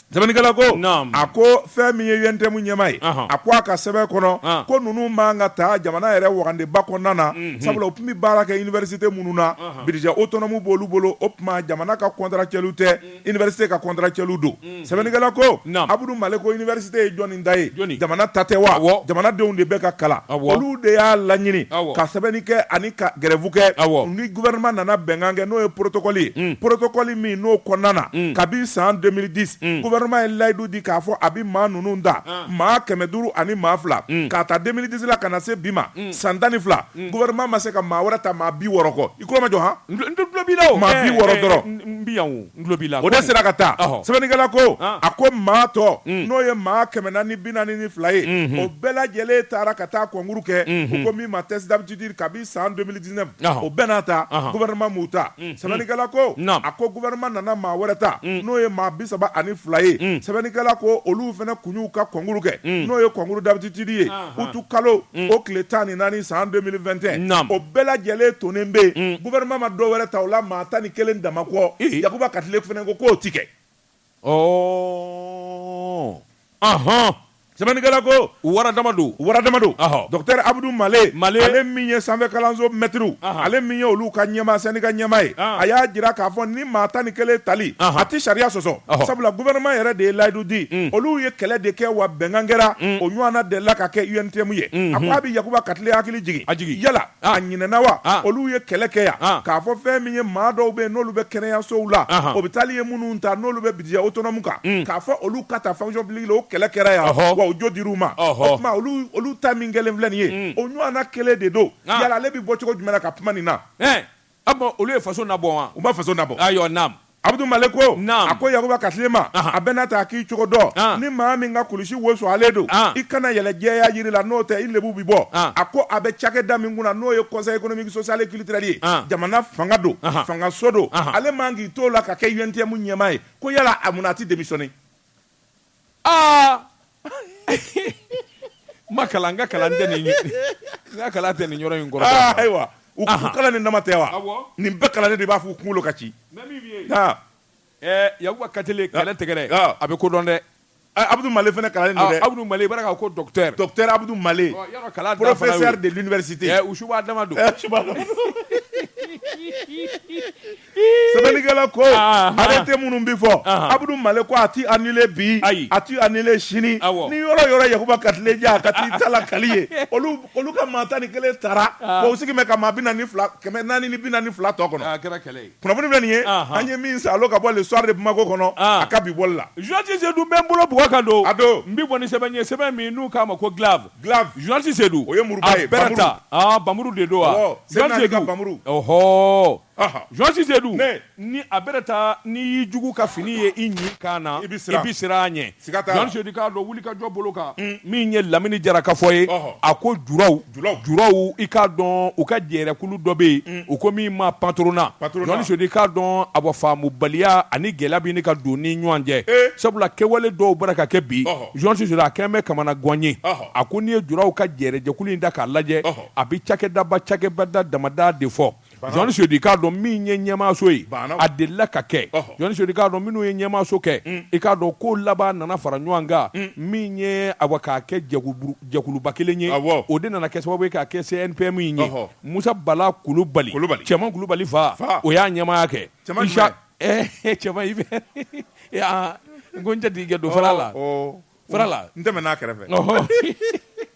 Sɛbɛnnikɛla ko Naamu a ko fɛn min ye UNTM ɲɛmaa ye Ɔhɔn a ko a ka sɛbɛn kɔnɔ Ɔn ko ninnu man ka ta jamana yɛrɛ wagandeba kɔnɔna na sabula u tun bɛ baara kɛ université minnu na Ɔhɔn budget autonome b'olu bolo o tuma jamana ka contractuel tɛ université ka contractuel don. sɛbɛnnikɛla ko abudu male ko université ye jɔni ta ye jamana ta tɛ wa jamanadenw de bɛ ka kalan olu de y'a laɲini ka sɛbɛnni kɛ ani ka grève kɛ ni gouvernement nana bɛnkan kɛ n'o ye porotokɔli ye porotokɔli min n'o kɔnɔna na kabi san deux mille dix gouvernement ye layidu di k'a fɔ a bɛ maa ninnu ta maa kɛmɛ duuru ani maa fila k'a ta deux mille dix la ka na se bi ma san tan ni fila gouvernement ma se ka maa wɛrɛ ta maa bi wɔɔrɔ kɔ i tulo majɔ han maa bi wɔɔrɔ dɔrɔn o de sera ka ta sɛbɛnnikɛla ko a ko maa tɔ n'o ye maa kɛmɛ naani ni bi naani ni fila ye o bɛɛ lajɛlen taara ka taa concours kɛ u ko min ma test d'aptitude kabi san deux mille dix-neuf o bɛɛ n'a ta gouvernement m'u ta sɛbɛnnikɛla ko a ko gouvernement nana maa wɛrɛ ta n'o ye maa bi saba ani fila ye sɛbɛnnikɛla ko olu fana kun y'u ka concours kɛ n'o ye concours d'aptitude ye utu kalo o tile tan ni naani san deux mille vingt et un o bɛɛ lajɛlen tonen bɛ yen gouvernement ma dɔ wɛrɛ ta o la maa tan ni kelen dama kɔ yakuba katile fana ko k'o ti kɛ hɔn sɛbɛnnikɛla ko wara dama don wara dama don docteur abudu male ale min ye sanfɛ kalanso maître ale min ye olu ka ɲɛmaa syndicat ɲɛmaa ye a y'a jira k'a fɔ maa tan ni kelen tali a tɛ sariya sɔsɔ sabula gouvernement yɛrɛ de ye layidu di olu ye kɛlɛ de kɛ wa bɛnkan kɛra o ɲɔgɔn delila ka kɛ UNTM ye a ko a bɛ yakuba katile hakili jigin a jigin yala a ɲinɛna wa olu ye kɛlɛ kɛ yan k'a fɔ fɛn min ye maa dɔw bɛ yen n'olu bɛ kɛnɛyasow la hôpital ye minnu ta n'olu bɛ budget autonome kan k'a fɔ olu ka ta fonction publique la o kɛlɛ kɛra yan wa jo dir'u ma olu ta min kɛlen filɛ nin ye o ɲɔgɔn kelen de don yala ale bɛ bɔ cogo jumɛn ka kuma nin na Ah bon olu ye faso na bɔ wa u ma faso na bɔ ayiwa naamu abudu male ko a ko yakuba katile ma a bɛɛ n'a ta k'i cogo dɔn ni maa min ka kulusi wo sualen don i kana yɛlɛ jɛya yiri la n'o tɛ i lebu bɛ bɔ a ko a bɛ cakɛda min kunna n'o ye conseil économique social et culturel ye jamana fanga don fangaso don ale man k'i t'o la ka kɛ UNTM ɲɛmaa ye ko yala a munna a tɛ démissionner Ma kalan ka kalan tɛ nin kalan tɛ nin yɔrɔ in kɔrɔ ayiwa u kalan ni nama tɛ wa nin bɛɛ kalan de b'a fɔ u kunkolo ka ci ya ka kalan tɛgɛɛrɛ a bɛ kodɔn dɛ abudu mali fana kalan abudu mali ka ko abudu mali de su don sɛbɛnnikɛla ko arrêté minnu bɛ fɔ abudu male ko a tɛ annulé bi a tɛ annulé sini ni yɔrɔ yɔrɔ yakuba katile ja ka taa tala kali ye olu ka maa tan ni kelen tara o sigi ka maa bi naani kɛmɛ naani ni bi naani ni fila tɔ kɔnɔ a kɛra kɛlɛ ye kunnafoni bɛ nin ye an ye min sɔrɔ ka bɔ le soir de bamako kɔnɔ a ka bi bɔli la journaliste seydou bɛ n bolo bugɔ kan don a don n bɛ bɔ ni sɛbɛn ye sɛbɛn min n'u k'a ma ko glaive journaliste seydou o ye muru ye bɛɛ ta npamuru de don wa sɛbɛn kauru hɔ Journaliste Seydou ni a bɛrɛ ta n'i y'i jugu ka fini ye i ɲi kan na i bɛ siran a ɲɛ Journaliste Seydou i k'a dɔn wulikajɔ bolo kan min ye lamini jara ka fɔ ye a ko juraw i k'a dɔn u ka jɛrɛkulu dɔ bɛ yen u ko min ma patronat Journaliste Seydou i k'a dɔn a bɔ faamubaliya ani gɛlɛya bini ka don ni ɲɔgɔn cɛ sabula kɛwale dɔw bara ka kɛ bi Journaliste Seydou a kɛlen bɛ kamanagan ye a ko n'i ye juraw ka jɛrɛjɛkulu in da k'a lajɛ a bɛ cakɛdaba cakɛbada damada de fɔ Journaliste Seydou i k'a dɔn min ye ɲɛmaaso ye a delila ka kɛ Journaliste Seydou i k'a dɔn minnu ye ɲɛmaaso kɛ mm. i k'a dɔn ko laban nana fara ɲɔgɔn kan mm. min ye awa k'a kɛ jɛkuluba kelen ye o de nana kɛ sababu ye k'a kɛ CNPM in ye musa bala kulubali cɛman kulubali fa o y'a ɲɛmaaya kɛ cɛman i fɛ n ko n tɛ d'i kɛ don fara la fara la n tɛmɛ n'a kɛrɛfɛ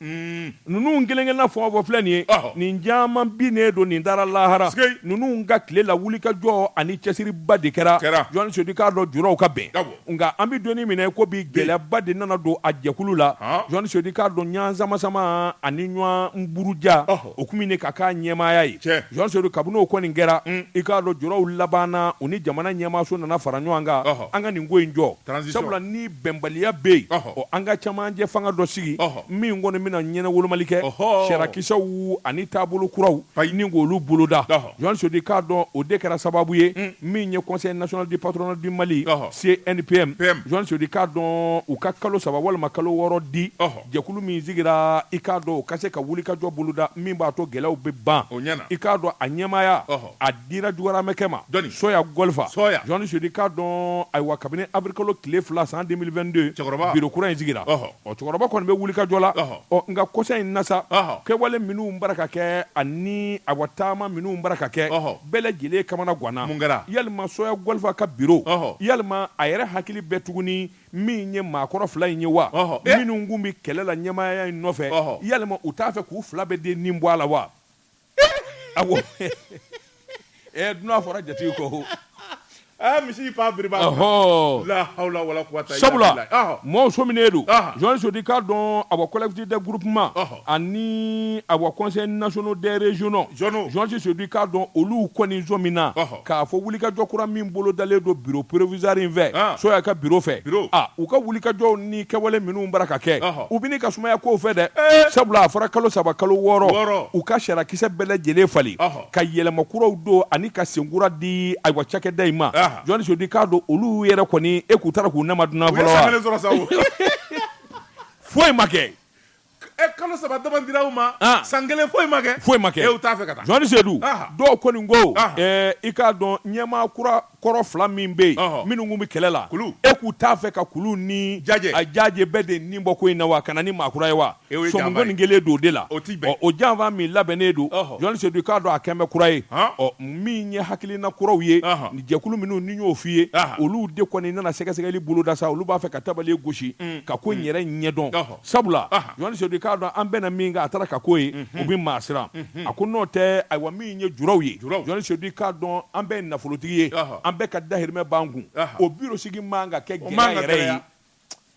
Ninnu kelen-kelenna foto filɛ nin ye nin caman binnen don nin taara lahara ninnu ka tile la wulikajɔ ani cɛsiriba de kɛra Journaliste Seydou i k'a dɔn juraw ka bɛn nka an bɛ don min na i ko bi gɛlɛyaba de nana don a jɛkulu la Journaliste Seydou i k'a dɔn ɲɔgɔn samasama ani ɲɔgɔn buruja o kun bini ka k'a ɲɛmaaya ye Journaliste Seydou kabini o kɔni kɛra i k'a dɔn juraw labanna u ni jamana ɲɛmaaso nana fara ɲɔgɔn kan an ka nin ko in jɔ sabula ni bɛnbaliya bɛ yen an ka cɛmancɛfanga dɔ sigi min kɔni bɛna ɲɛnawolomali kɛ sariyakisɛw ani taabolo kuraw ni k'olu boloda Journaliste Seydou i k'a dɔn o de kɛra sababu ye min ye Conseil national du patronat du Mali CNPM Journaliste Seydou i k'a dɔn u ka kalo saba walima kalo wɔɔrɔ di Jɛkulu min sigira, i k'a dɔn o ka se ka wulikajɔ boloda min b'a to gɛlɛyaw bɛ ban. O ɲɛna. I k'a dɔn a ɲɛmaaya, a dira Jogoramɛkɛ ma. Jɔni? Sɔya Gɔlifa. Sɔya. Journaliste Seydou. I k'a dɔn, ayiwa, kabini awirikalo tile fila san 2022, Cɛkɔrɔba. Biro kura in sigira. Ɔhɔ. Ɔ, Cɛkɔrɔba kɔni bɛ wulikajɔ la. Ɔhɔ. Ɔ, nka kɔsa in na sa, Ɔhɔ. kɛwale minnu bara ka kɛ ani, ayiwa, taama minnu bara ka kɛ, Ɔhɔ. bɛɛ lajɛlen kamana ganna. Mun kɛra? Yalima Sɔya Gɔlifa ka biro, Ɔhɔ. yalima a yɛrɛ hakili bɛ tuguni min ye maakɔrɔ fila in ye wa eh. minnu kun bɛ kɛlɛ la ɲɛmaaya in nɔfɛ yalima u t'a fɛ k'u fila bɛɛ de nin bɔ a la wa awɔ eh, dunan fɔra jatigi kɔ eh, misi fa biriba la hawla wala quwwata sabula mɔɔw sominen don Journaliste Seydou i k'a dɔn a bɔ collectif des groupements ani awa conseil nationaux des régionaux Zɔnw. Journaliste Seydou i k'a dɔn olu kɔni somina Ɔhɔ. k'a fɔ wulikajɔ kura min bolodalen don biro provisoire in fɛ Ah. soya ka biro fɛ Biro. Ah, u ka wulikajɔw ni kɛwale minnu bara ka kɛ Ɔhɔ. u bini ka sumaya kow fɛ dɛ Eh. sabula a fɔra kalo saba kalo Wɔɔrɔ. wɔɔrɔ u ka sariyakisɛ bɛɛ lajɛlen falen Ɔhɔ. ka yɛlɛma kuraw don ani ka senkura di ayiwa cakɛda in ma Ah. Journaliste Seydou i k'a dɔn olu yɛrɛ kɔni e k'u taara k'u nama dunan u ye fɔlɔ wa sangalen sɔrɔ sa o foyi ma kɛ E kalo saba dama dira u ma san kelen foyi ma kɛ foyi ma kɛ e u t'a fɛ ka taa Sedu dɔw kɔni ko i k'a dɔn ɲɛmaa kura kɔrɔ fila min bɛ yen minnu kun bɛ kɛlɛ la e k'u t'a fɛ ka Kulu ni Jaje a Jaje bɛɛ de nin bɔ ko in na wa ka na ni maa kura ye wa kɔni kelen don de la o tɛ o janfa min labɛnnen don Jɔn Sedu k'a dɔn a kɛmɛ bɛ kura ye ɔ min ye hakilina kuraw ye jɛkulu minnu ni y'o f'i ye olu de kɔni nana sɛgɛsɛgɛli boloda sa olu b'a fɛ ka tabali gosi ka ko in yɛrɛ ɲɛdɔn sabula Jɔn Sedu k'a dɔn an bɛnna min kan a taara ka ko ye u bɛ maa siran a ko n'o tɛ ayiwa min ye juraw ye Jɔn Sedu k'a dɔn an bɛɛ nafolotigi ye an bɛɛ ka dahirimɛ b'an kun o biro sigi man ka kɛ gɛlɛya yɛrɛ ye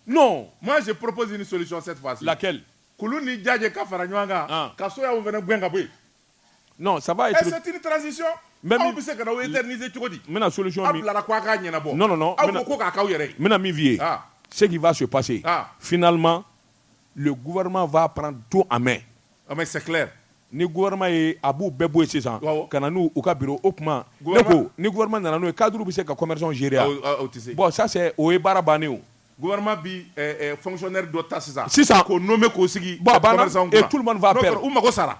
non moi je propose une solution cette fois-ci laquelle Kulu ni Jaje ka fara ɲɔgɔn kan ka Soya fana gɛn ka bɔ Non ça va être C'est une transition mais aw bɛ se ka na aw éterniser cogo di? N bɛna solution min aw bilara ko a k'a ɲɛnabɔ non non non aw ko ko k'a k'aw yɛrɛ ye n bɛna min f'i ye ce qui va se passer finalement le gouvernement va prendre tout en main ah mais c'est clair ni gouvernement ye a b'u bɛɛ bɔ yen sisan ka na n'u ka bureau o tuma ne ko ni gouvernement nana n'o ye cadres bɛ se ka commerçants gérer wa? Aw tɛ se bon ça c'est o ye baara bannen ye o. Gouvernement bi fonctionnaire dɔ ta sisan sisan k'o nommer k'o sigi commerçants kunna et tout le monde va perdre u mago sara.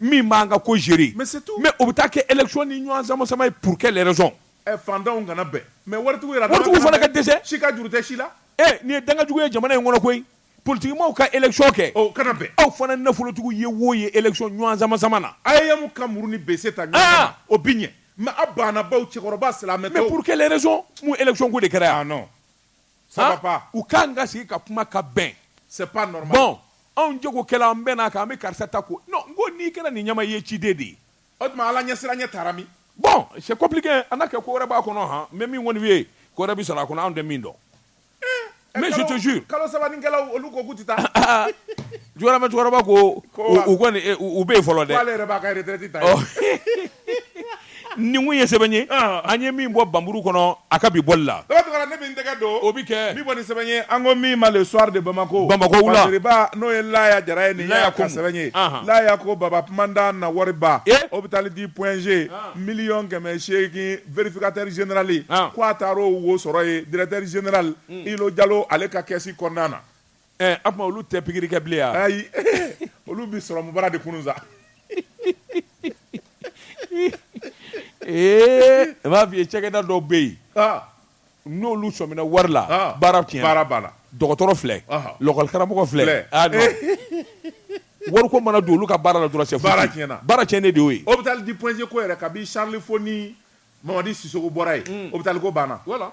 min b'an ka ko gérer mais c'est tout mais o bɛ taa kɛ élection ni ɲɔgɔn sama-sama ye pour quelle raison ɛ fantanw kana bɛn mais waritigiw yɛrɛ waritigiw fana ka dɛsɛ si ka juru tɛ si la ee nin ye dangajugu ye jamana in kɔnɔ koyi politikimaaw ka élection kɛ o kana bɛn aw fana nafolotigiw ye wo ye élection ɲɔgɔn sama-sama na AEEM ka muru ni bese ta ɲɔgɔn o bi ɲɛ mais a banna baw cɛkɔrɔba silamɛtɔw mais pour quelle raison mun élection ko de kɛra yan ah non u ka kan ka sigi ka kuma ka bɛn bon anw jagokɛla an bɛnna a kan an bɛ karisa ta ko non n ko n'i kɛra nin ɲɛmaa ye ciden de ye o tuma Ala ɲɛsiranɲɛ taara min bon c'est compliqué a na kɛ ko wɛrɛ b'a kɔnɔ han mais min kɔni ye ko wɛrɛ bɛ sɔrɔ a kɔnɔ anw tɛ min dɔn mais kalo saba kɛlaw olu ko k'u tɛ taa jamais cɛkɔrɔba ko u u bɛ yen fɔlɔ dɛ nin kun ye sɛbɛn ye an ye min bɔ Banburu kɔnɔ a ka bi bɔli la ne bɛ n tɛgɛ don o bɛ kɛ bi bɔli sɛbɛn ye an ko min ma le soir de Bamako Bamako wula Masiriba n'o ye Laya Jara ye nin y'a ka sɛbɛn ye Laya ko Baba Kumanda na wariba hôpital du point G miliyɔn kɛmɛ seegin vérificateur général ko a taar'o wo sɔrɔ yen directeur général Ilo Jalo ale ka kɛsi kɔnɔna na Ɛ a tuma olu tɛ pikiri kɛ bilen wa? Ayi olu bɛ sɔrɔmu bara de kunun sa. Ee n b'a f'i ye cakɛda dɔw bɛ yen. Ɔn! N'olu sɔmina wari la. Ɔn! Baara tiɲɛna. Baara banna. Dɔgɔtɔrɔ filɛ. Ɔhɔn! Lakɔlikaramɔgɔ filɛ. Filɛ! Aa non wariko mana don olu ka baara la dɔrɔn c'est foutu. Baara tiɲɛna. Baara tiɲɛnen de y'o ye. Hôpital du Point G ko yɛrɛ, kabi Charles Fau ni Mamadi Sissoko bɔra yen. Un! Hôpital ko banna. Wala!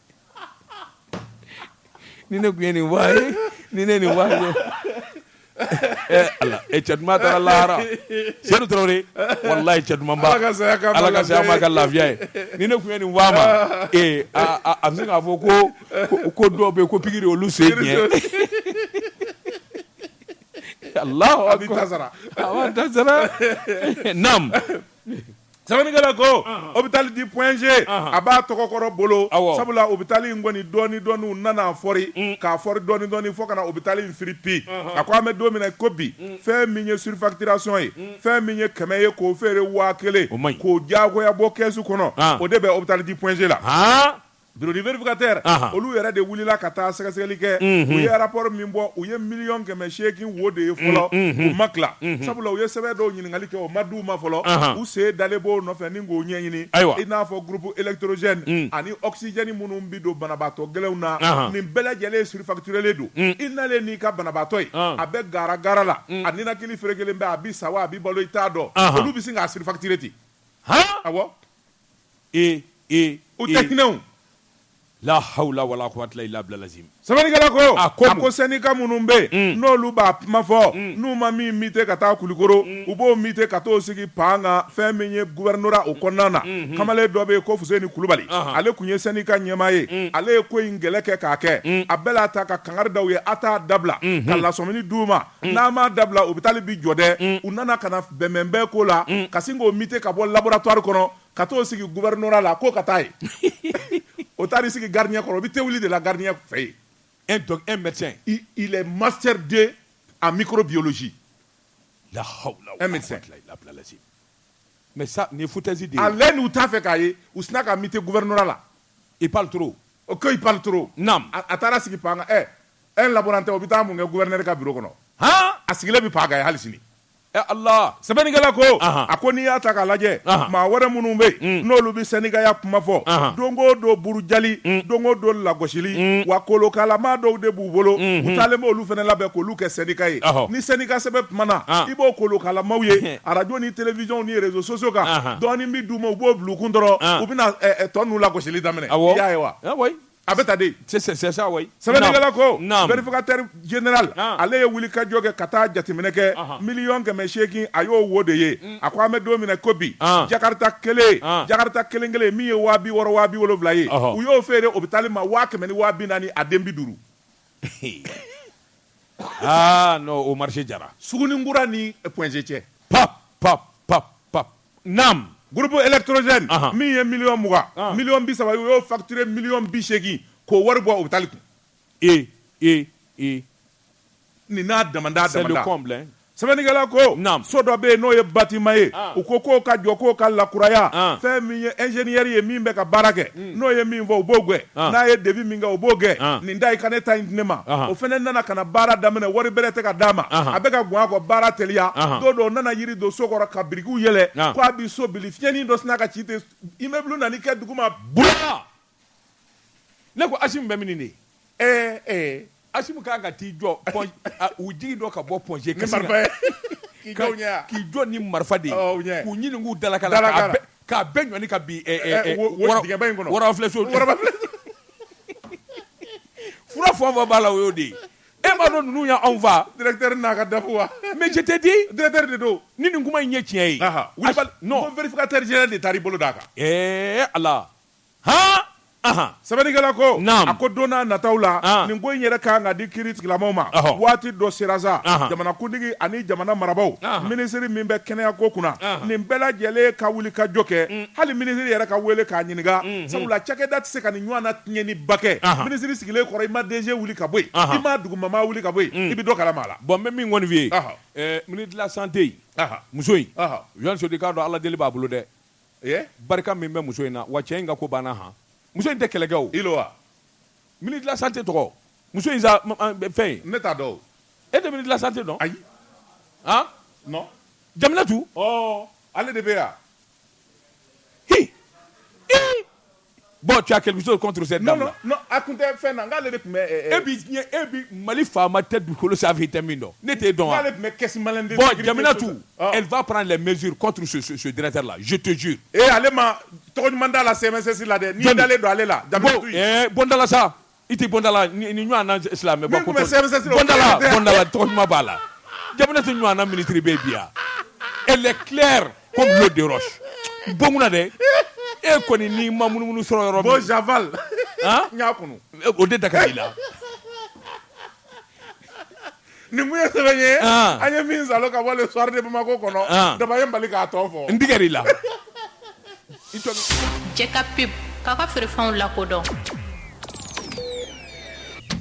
ni ne tun ye nin wa ye ni ne nin wa ye eh, ala e eh, cɛ duman taara lahara sedu tarawele walayi cɛ duman ba ala ka saya ma ka lafiya ye ni ne tun ye nin wa ma ee a a bɛ se k'a fɔ ko ko dɔw bɛ yen ko pikiri olu sen tiɲɛ alahu akubar a b'a ta sara a b'a ta sara naam Sɛbɛnnikɛla ko hôpital du point G a b'a tɔgɔkɔrɔ bolo, awɔ, sabula hôpital in kɔni dɔɔnin dɔɔnin u nana a fɔri, un, k'a fɔri dɔɔnin dɔɔnin fɔ ka na hôpital in firi pi, ɔnhɔn, a ko an bɛ don min na i ko bi, un, fɛn min ye surfacturation ye, un, fɛn min ye kɛmɛ ye k'o feere waa kelen, o man ɲi, k'o diyagoya bɔ kɛsu kɔnɔ, an, o de bɛ hôpital du point G la, haan Bureau du vérificateur olu yɛrɛ de wulila ka taa sɛgɛsɛgɛli kɛ u ye rapport min bɔ u ye miliyɔn kɛmɛ seegin wo de ye fɔlɔ u ma tila sabula u ye sɛbɛn dɔw ɲininkali kɛ o ma di u ma fɔlɔ u sen dalen b'o nɔfɛ ni k'o ɲɛɲini ayiwa i n'a fɔ groupe électrogène ani oxygène minnu bɛ don banabaatɔ gɛlɛnw na nin bɛɛ lajɛlen surfacturelen don i nalen n'i ka banabaatɔ ye a bɛ garagara la a ninakili ferekelen bɛ a bɛ sa wa a bɛ balo i t'a dɔn olu bɛ sin k'a surfacturer ten ee ee u tɛ hinɛw la hawla wala quwwata illa billah lazim sɛbɛnnikɛla ko a ko a ko sɛnika minnu bɛ yen mm. n'olu b'a kuma fɔ mm. n'u ma min mite ka taa kulikoro mm. u b'o mite ka t'o sigi pan kan fɛn min ye guvɛrinora o kɔnɔna na mm-hmm. kamalen dɔ bɛ yen ko fuseni kulubali uh-huh. ale tun ye sɛnika ɲɛmaa ye ale ye ko in kɛlɛ kɛ k'a kɛ a bɛɛ la taa ka kangari da u ye a t'a dabila mm-hmm. ka lasɔmini d'u ma n'a m'a dabila ɔpitali bi jɔ dɛ u nana ka na bɛnbɛn bɛn ko la ka sin k'o mite ka bɔ laboratwari kɔnɔ ka t'o sigi gouvernorat la k'o ka taa yen o taara i sigi garidiɲɛ kɔrɔ o bɛ te wuli de la garidiɲɛ fɛ yen un médecin il est master deux en microbiologie la hawla un médecin mais ça nin futɛsi de ale n'u t'a fɛ k'a ye u sina k'a mite gouvernorat la il parle trop O ko il parle trop naamu a taara sigi pan e un laborantin o bɛ taa mun kɛ gouverneur ka biro kɔnɔ hɔn a sigilen bɛ pan kan hali sini ɛ ala sɛbɛnnikɛla ko a ko n'i y'a ta k'a lajɛ maa wɛrɛ minnu bɛ yen n'olu bɛ sɛndikaya kuma fɔ don o don burujali don o don lagosili wa kolonkalama dɔw de b'u bolo u taalen bɛ olu fana labɛn k'olu kɛ sɛndika ye ni sɛndika sɛbɛ kumana i b'o kolonkalamaw ye Arajo ni télévision ni réseaux sociaux kan dɔɔnin bɛ d'u ma u b'o bila u kun dɔrɔn u bɛna tɔ ninnu lagosili daminɛ i y'a ye wa a bɛ tan de sɛbɛnnikɛla ko vérificateur général ale ye wuli ka jɔ kɛ ka taa jateminɛ kɛ miliyɔn kɛmɛ seegin a y'o wo de ye a ko an bɛ don min na i ko bi jakarita kelen jakarita kelen kelen min ye waa bi wɔɔrɔ waa bi wolonwula ye u y'o feere ɔpitali ma waa kɛmɛ ni waa bi naani a den bi duuru aa non o marché jara Suguninkura ni Point-G cɛ. pap pap pap pap naam Groupe électrogène Ahan. min ye miliyɔn mugan An. miliyɔn bi saba ye, u y'o facturer miliyɔn bi seegin k'o wari bɔ hôpital kun. e e e Nin n'a damanda c'est le damanda. comble hein Sɛbɛnnikɛla ko, naamu, so dɔ bɛ yen n'o ye bâtiment ye, u ko k'o ka jɔ k'o ka lakuraya, fɛn min ye ingénieur ye min bɛ ka baara kɛ, n'o ye min fɔ u b'o gɛn, n'a ye devis min kɛ u b'o gɛn, nin da i ka ne ta in di ne ma, o fana nana ka na baara daminɛ wari bɛrɛ tɛ ka d'a ma, a bɛ ka gɔn a kɔ baara teliya, don dɔ u nana jiri don so kɔrɔ ka birikiw yɛlɛ k'a bɛ so bili, fiɲɛnin dɔ sinna ka ci ten, immeuble nan'i kɛ duguma bula! ne ko asi bɛ min de ɛɛ ɛɛ asi ka ka t'i jɔ u jigi dɔ ka bɔ pɔɔnse k'i jɔ ni marifa de k'u ɲini k'u dala k'a bɛɛ ɲɔgɔn ka bi fura fɔ fɔ b'a la o y'o de ye e m'a dɔn ninnu ye anw faa n'a ka dafu wa mɛ jɛ tɛ di de don ni nin kuma in ye tiɲɛ ye teri de taa i bolo d'a kan ɛɛ ala Sɛbɛnnikɛla ko a ko don n'a nataw la nin ko in yɛrɛ ka kan ka di kiiri tigilamaaw ma waati dɔ sera sa jamanakuntigi ani jamana marabagaw minisiri min bɛ kɛnɛya ko kunna nin bɛɛ lajɛlen ka wuli ka jɔ kɛ hali minisiri yɛrɛ ka weele k'a ɲininka sabula cakɛda tɛ se ka nin ɲɔgɔn na tiɲɛniba kɛ minisiri sigilen kɔrɔ i ma DG wuli ka bɔ yen i ma dugumamaa wuli ka bɔ yen i bɛ dɔ kalama a la bon n bɛ min kɔni f'i ye ministre de la santé muso in u' sodi k'a dɔn Ala deli b'a bolo dɛ barika min bɛ muso in na wa cɛ in ka ko banna han muso in tɛ kɛlɛkɛ ilo wa ministre de la santé tɔgɔ muso in sa fɛn ne t'a dɔn e tɛ ministre de la santé dɔn ayi non Jaminatu ale de bɛ yan h Bon tu as quelque chose contre cette dame là? Non non a kun tɛ fɛn na n k'ale de tun bɛ ɛ ɛ. E bi diɲɛ e bi Mali faama tɛ dugukolo sanfɛ i tɛ min dɔn ne t'e dɔn wa? N k'ale tun bɛ caisse malienne de sécurité Bon Jaminatu elle va prendre les mesures contre ce ce ce directeur là je te jure. Ee ale ma tɔgɔ ɲuman d'a la CMSS la dɛ n'i dalen don ale la Jaminatu. Bon ɛɛ bɔ n da la sa. I tɛ bɔndala ni ɲɔgɔn silamɛ b'a la ja tɛ ɲɔgɔn minitiriri bɛ bi yan e tilɛ ko bon dɛ e kɔni ni ma minnuumunu sɔrɔ yɔrɔ zfa o de da i la nin mun ye sɛbɛn ye ah. an ye min salo ka bɔ le soir de Bamako kɔnɔ ah. daba ye Mali k'a tɔ fɔ n tigɛr'i la jɛ ka pub k'a ka feerefɛnw lakodɔn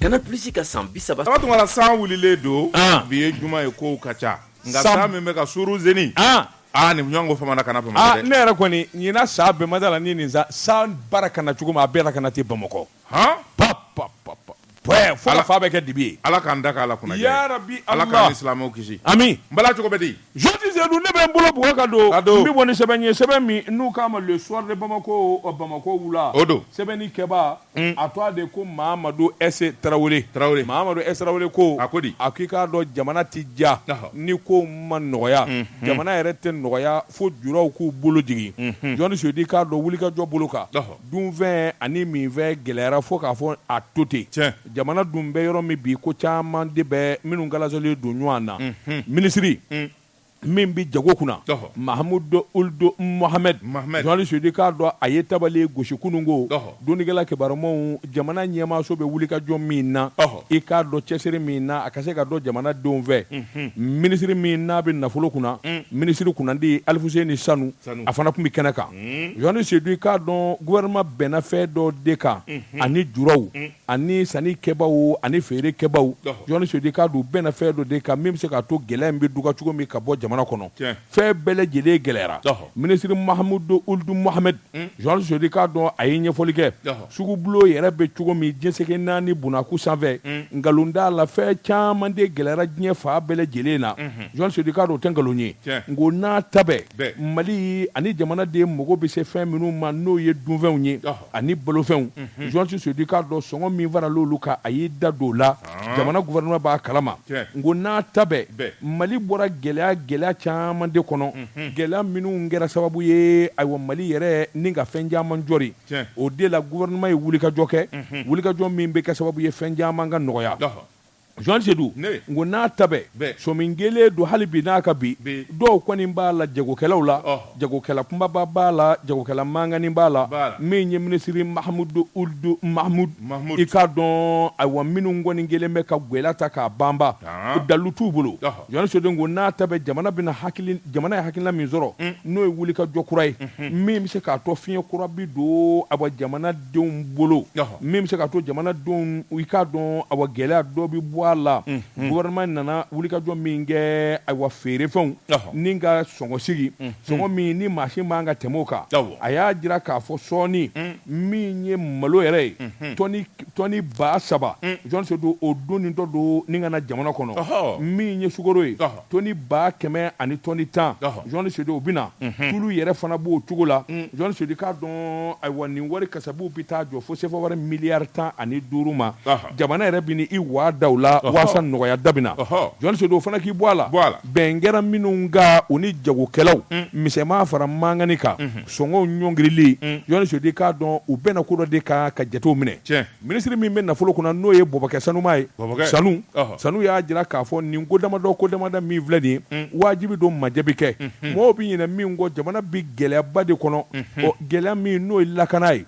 Canal Plus ka san bi saba saba tuma la san wulilen don ah. bi ye juma ye kow ka ca nka san min bɛ ka suru zeni aa nin ɲɔgɔn ko famana ka na bamakɔ dɛ ne yɛrɛ kɔni ɲina sa bɛ mada la ni nin sa san bara ka na cogo min a bɛɛ la ka na ten bamakɔ han pap pap pap Bɔɛ fo ka fan bɛɛ kɛ dibi ye Ala k'an da kɛ Ala kunajɛ ye yarabi Ala Ala k'an ni silamɛw kisi amiin Bala cogo bɛ di Jɔni Seyidu ne bɛ n bolo bugɔ ka don ka don n bɛ bɔ ni sɛbɛn ye sɛbɛn min n'u k'a ma le soir de Bamako ɔ Bamakɔ wula o don sɛbɛnni kɛbaa a tɔɔ de ko Mahamadu S Tarawele Tarawele Mahamadu S Tarawele ko a ko di a k'i k'a dɔn jamana tɛ diya ɔhɔ ni kow ma nɔgɔya jamana yɛrɛ tɛ nɔgɔya fo julaw k'u bolo jigin unhun Jɔni Seyidu i k'a dɔn wulikajɔ bolo kan ɔhɔ Dunfɛn ani minfɛn gɛlɛyara fo k'a fɔ a to ten. Tiɲɛ. Jamana dun bɛ yɔrɔ min bi, ko caman de bɛ minnu kalansolen don ɲɔgɔn na. Unhun. Minisiri. Un. Min bɛ jago kunna. Ɔhɔ! Mahamudu Uld Mohamɛdi. Mohamɛdi. Jɔni Seyidu i k'a dɔn a ye tabali gosi kunun ko. Ɔhɔ! Dɔnnikɛla kibarumaw, jamana ɲɛmaaso bɛ wulikajɔ min na. Ɔhɔ! I k'a dɔn cɛsiri min na, a ka se ka dɔn jamana denw fɛ. Unhun. Minisiri min n'a bɛ nafolo kunna. Un. Minisiri kunnandi Alifuseni Sanu. a fana tun bɛ kɛnɛ kan jɔni seyidu i k'a dɔn gouvernement bɛnna fɛn dɔ de kan ani julaw ani sanni kɛbaaw ani feere kɛbaaw jɔni seyidu i k'a dɔn u bɛnna fɛn dɔ de kan min bɛ se k'a to gɛlɛya in bɛ duga cogo min ka bɔ jamana kɔnɔ fɛn bɛɛ lajɛlen gɛlɛyara minisiri mahamudu uld mohamɛdi jɔni seyidu i k'a dɔn a ye ɲɛfɔli kɛ Sugubulo yɛrɛ bɛ cogo min diɲɛ seleke naani bnaku sanfɛ nkalon t'a la fɛn caman de gɛlɛyara diɲɛ fan bɛɛ lajɛlen na jɔni seyidu i k'a dɔn o tɛ nkalon ye nk'o n'a ta bɛɛ mali ani jamana den mako bɛ se fɛn minnu ma n'o ye dunfɛnw ye ani balofɛnw jɔni seyidu i k'a dɔn sɔngɔ min farala olu kan a y'i da don o la jamana gouvernement b'a kalama nk'o n'a ta bɛɛ mali bɔra gɛlɛya gɛlɛya caman de kɔnɔ gɛlɛya minnu kɛra sababu ye ayiwa mali yɛrɛ ni ka fɛn caman jɔ O de la gouvernement ye wulikajɔ kɛ, unhun, wulikajɔ min bɛ kɛ sababu ye fɛn caman ka nɔgɔya, ɔhɔ, Jɔni Seydou, ne, nk'o n'a ta bɛɛ, bɛɛ, sɔmi kelen don hali bi n'a ka bi, bi, dɔw kɔni b'a la jagokɛlaw la, ɔhɔ, jagokɛla kunbaba b'a la, jagokɛla mankannin b'a la, b'a la, min ye minisiri Mahmoud Ould Mahmoud, Mahmoud, i k'a dɔn, ayiwa, minnu kɔni kɛlen bɛ ka gɛlɛya ta k'a banba, haan, dalu t'u bolo, ɔhɔ. Jɔni Seyidu nk'o n'a ta bɛɛ jamana ye hakilina min sɔrɔ mm. n'o ye wulikajɔ kura ye mm-hmm. min bɛ se k'a to fiɲɛ kura bi don ayiwa jamana denw bolo min bɛ se k'a to jamana denw i k'a dɔn ayiwa gɛlɛya dɔ bɛ bɔ a la mm-hmm. gouvernement nana wulikajɔ min kɛ ayiwa feerefɛnw ni ka sɔngɔ sigi mm-hmm. sɔngɔ min ni maa si man kan ka tɛmɛ o kan a y'a jira k'a fɔ sɔɔni mm. min ye malo yɛrɛ ye tɔni tɔni ba saba jɔni seyidu o don ni dɔ donni ka na jamana kɔnɔ min ye sukaro ye tɔni ba kɛmɛ ani tɔni tan jɔni seyidu o bɛna tulu yɛrɛ fana b'o cogo la jɔni seyidu i k'a dɔn ayiwa nin wari kasabiw bɛ taa jɔ fo sefa wari miliyari tan ani duuru ma jamana yɛrɛ bɛn'i waa da o la waasa nɔgɔya dɔ bi na jɔni seyidu o fana k'i bɔ a la bɛn kɛra minnu kan u ni jagokɛlaw misɛnman fara mankani kan sɔngɔw ɲɔngirili mm. jɔnni seyidu i k'a dɔn u bɛna ko dɔ de kan ka jatew minɛ minisiri min bɛ nafolo kunna n'o ye bɔbɔkɛ sanuma ye sanu sanu y'a jira k'a fɔ nin ko damadɔ ko damadɔ min filɛ nin ye mm. wajibi don majɛbi kɛ mm-hmm. mɔgɔw bɛ ɲinɛ min kɔ jamana bɛ gɛlɛyaba de kɔnɔ mm-hmm. gɛlɛya min n'o ye lakana ye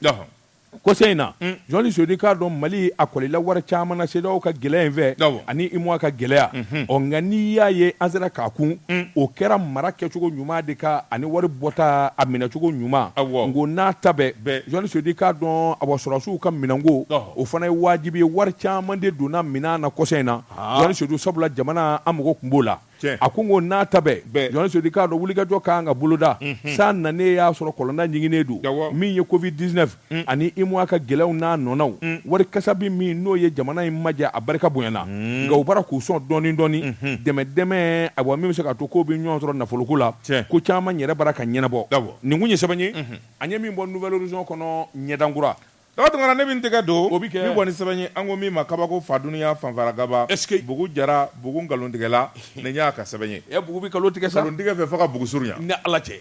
Kɔsa in na jɔnni seyidu i k'a dɔn mali a kɔlila wari caman na CEDEAO ka gɛlɛya in fɛ ani UEMOA ka gɛlɛya ɔ nka n'i y'a ye an sera k'a kun o kɛra mara kɛcogo ɲuman de kan ani wari bɔta a minɛcogo ɲuman ko n'a ta bɛɛ jɔnni seyidu i k'a dɔn awa sɔrɔdasiw ka minɛnko o fana ye wajibi ye wari caman de donna minɛn na kɔsa in na jɔnni seyidu sabula jamana an mako tun b'o la a ko ko n'a ta bɛɛ jɔnni seyidu i k'a dɔn wulikajɔ ka kan ka boloda san nanen y'a sɔrɔ kɔlɔnda ɲiginnen don min ye Covid-19 ani UEMOA ka gɛlɛyaw n'a nɔnaw wari kasabi min n'o ye jamana in majɛ a barika bonyana nka u bara k'u sɔn dɔɔnin dɔɔnin dɛmɛ dɛmɛ awa min bɛ se ka to k'o bɛ ɲɔgɔn sɔrɔ nafoloko la ko caman yɛrɛ bara ka ɲɛnabɔ nin tun ye sɛbɛn ye an ye min bɔ Nouvel Horizon kɔnɔ ɲɛdankura Daga tun ne bɛ n tɛgɛ don min bɔ ni sɛbɛn ye an ko min ma kabako fa dunya fanfaragaba bugu jara bugu nkalontigɛla nin y'a ka sɛbɛn ye e bugu bɛ nkalon tigɛ sa nkalontigɛ fɛ fo ka bugu surunya ni ala cɛ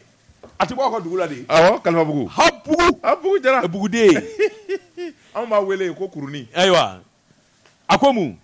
a tɛ bɔ aw ka dugu la de kalifabugu bugu jara buguden anw b'a wele ko kurunin ayiwa A ko mun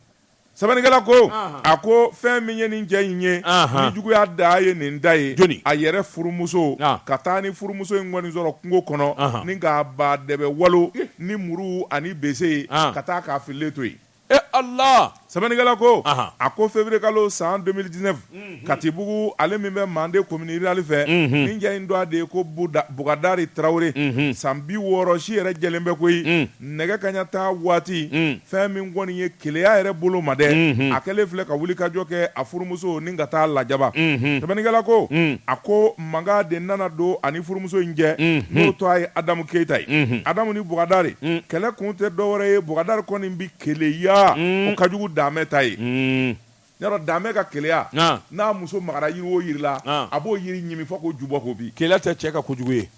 sɛbɛnnikɛla ko a ko fɛn min ye nin cɛ in ye ni juguya da ye nin da ye jɔnni a yɛrɛ furumuso ka taa ni furumuso in kɔni sɔrɔ kungo kɔnɔ ni k'a ba dɛbɛ walo ni muru ani bese ye ka taa k'a fililen to yen e ala sɛbɛnnikɛla ko a ko février kalo san deux mille dix-neuf katibugu ale min bɛ manden commune rurale fɛ nin cɛ in tɔgɔ de ye ko bukadari tarawele san bi wɔɔrɔ si yɛrɛ jɛlen bɛ koyi nɛgɛ kaɲa taa waati fɛn min kɔni ye keleya yɛrɛ bolo ma dɛ a kɛlen filɛ ka wulikajɔ kɛ a furumuso ni ka taa lajaba sɛbɛnnikɛla ko a ko mankan de nana don a ni furumuso in cɛ n'o tɔgɔ ye adamu keyita ye adamu ni bukadari kɛlɛ kun tɛ dɔ wɛrɛ ye bukadari kɔni bɛ keleya o ka jugu daame ta ye Yɔrɔ Daame ka keleya, naamu, n'a muso magara yiri o yiri la, naamu, a b'o yiri ɲimi fɔ k'o ju bɔ k'o bin. Keleya tɛ cɛ ka kojugu ye.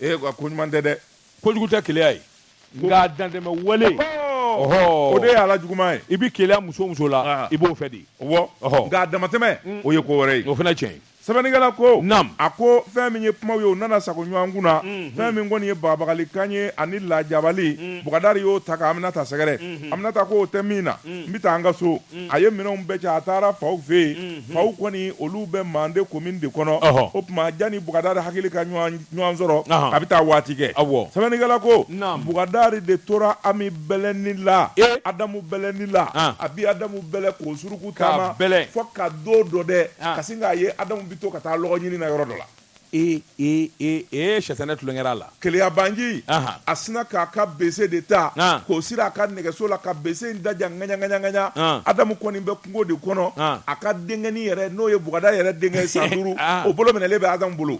Ee nka ko ɲuman tɛ dɛ. Kojugu tɛ keleya ye. Nka a dantɛmɛ wale, ɔhɔɔ, o de ye a la juguman ye. I bɛ keleya muso o muso la, i b'o fɛ de. Ɔwɔ, nka a damatɛmɛ, o ye ko wɛrɛ ye. O fana ye tiɲɛ ye. Sɛbɛnnikɛla ko, naamu, a ko fɛn min ye kumaw ye o nana sago ɲɔgɔn kun na, unhun, fɛn min kɔni ye bagabagali kan ye ani lajabali, un, Bukadari y'o ta ka Aminata sɛgɛrɛ, unhun, Aminata ko o tɛ min na, un, n bɛ taa an ka so, un, a ye minɛnw bɛɛ cɛ a taara faw fɛ yen, unhun, faw kɔni olu bɛ Mande komini de kɔnɔ, ɔhɔ, o tuma janni Bukadari hakili ka ɲɔgɔn sɔrɔ, ɔnhɔn, a bɛ taa waati kɛ, awɔ, sɛbɛnnikɛla ko, naamu, Bukadari de tora Ami bɛlɛni la e adamu bɛlɛni la a bi adamu bɛlɛ ko suruku taama bɛlɛ fo ka don dɔ dɛ ka sin k'a ye adamu bi to ka taa lɔgɔ ɲini na yɔrɔ dɔ la ee ee ee ee sitanɛ tulonkɛra a la keleyabaanci a sina k'a ka bese de ta k'o siri a ka nɛgɛso la ka bese in dadiya ŋaɲa ŋaɲa ŋaɲa adamu kɔni bɛ kungo de kɔnɔ a ka denkɛni yɛrɛ n'o ye bukadari yɛrɛ denkɛ san duuru o bolo minɛlen bɛ adamu bolo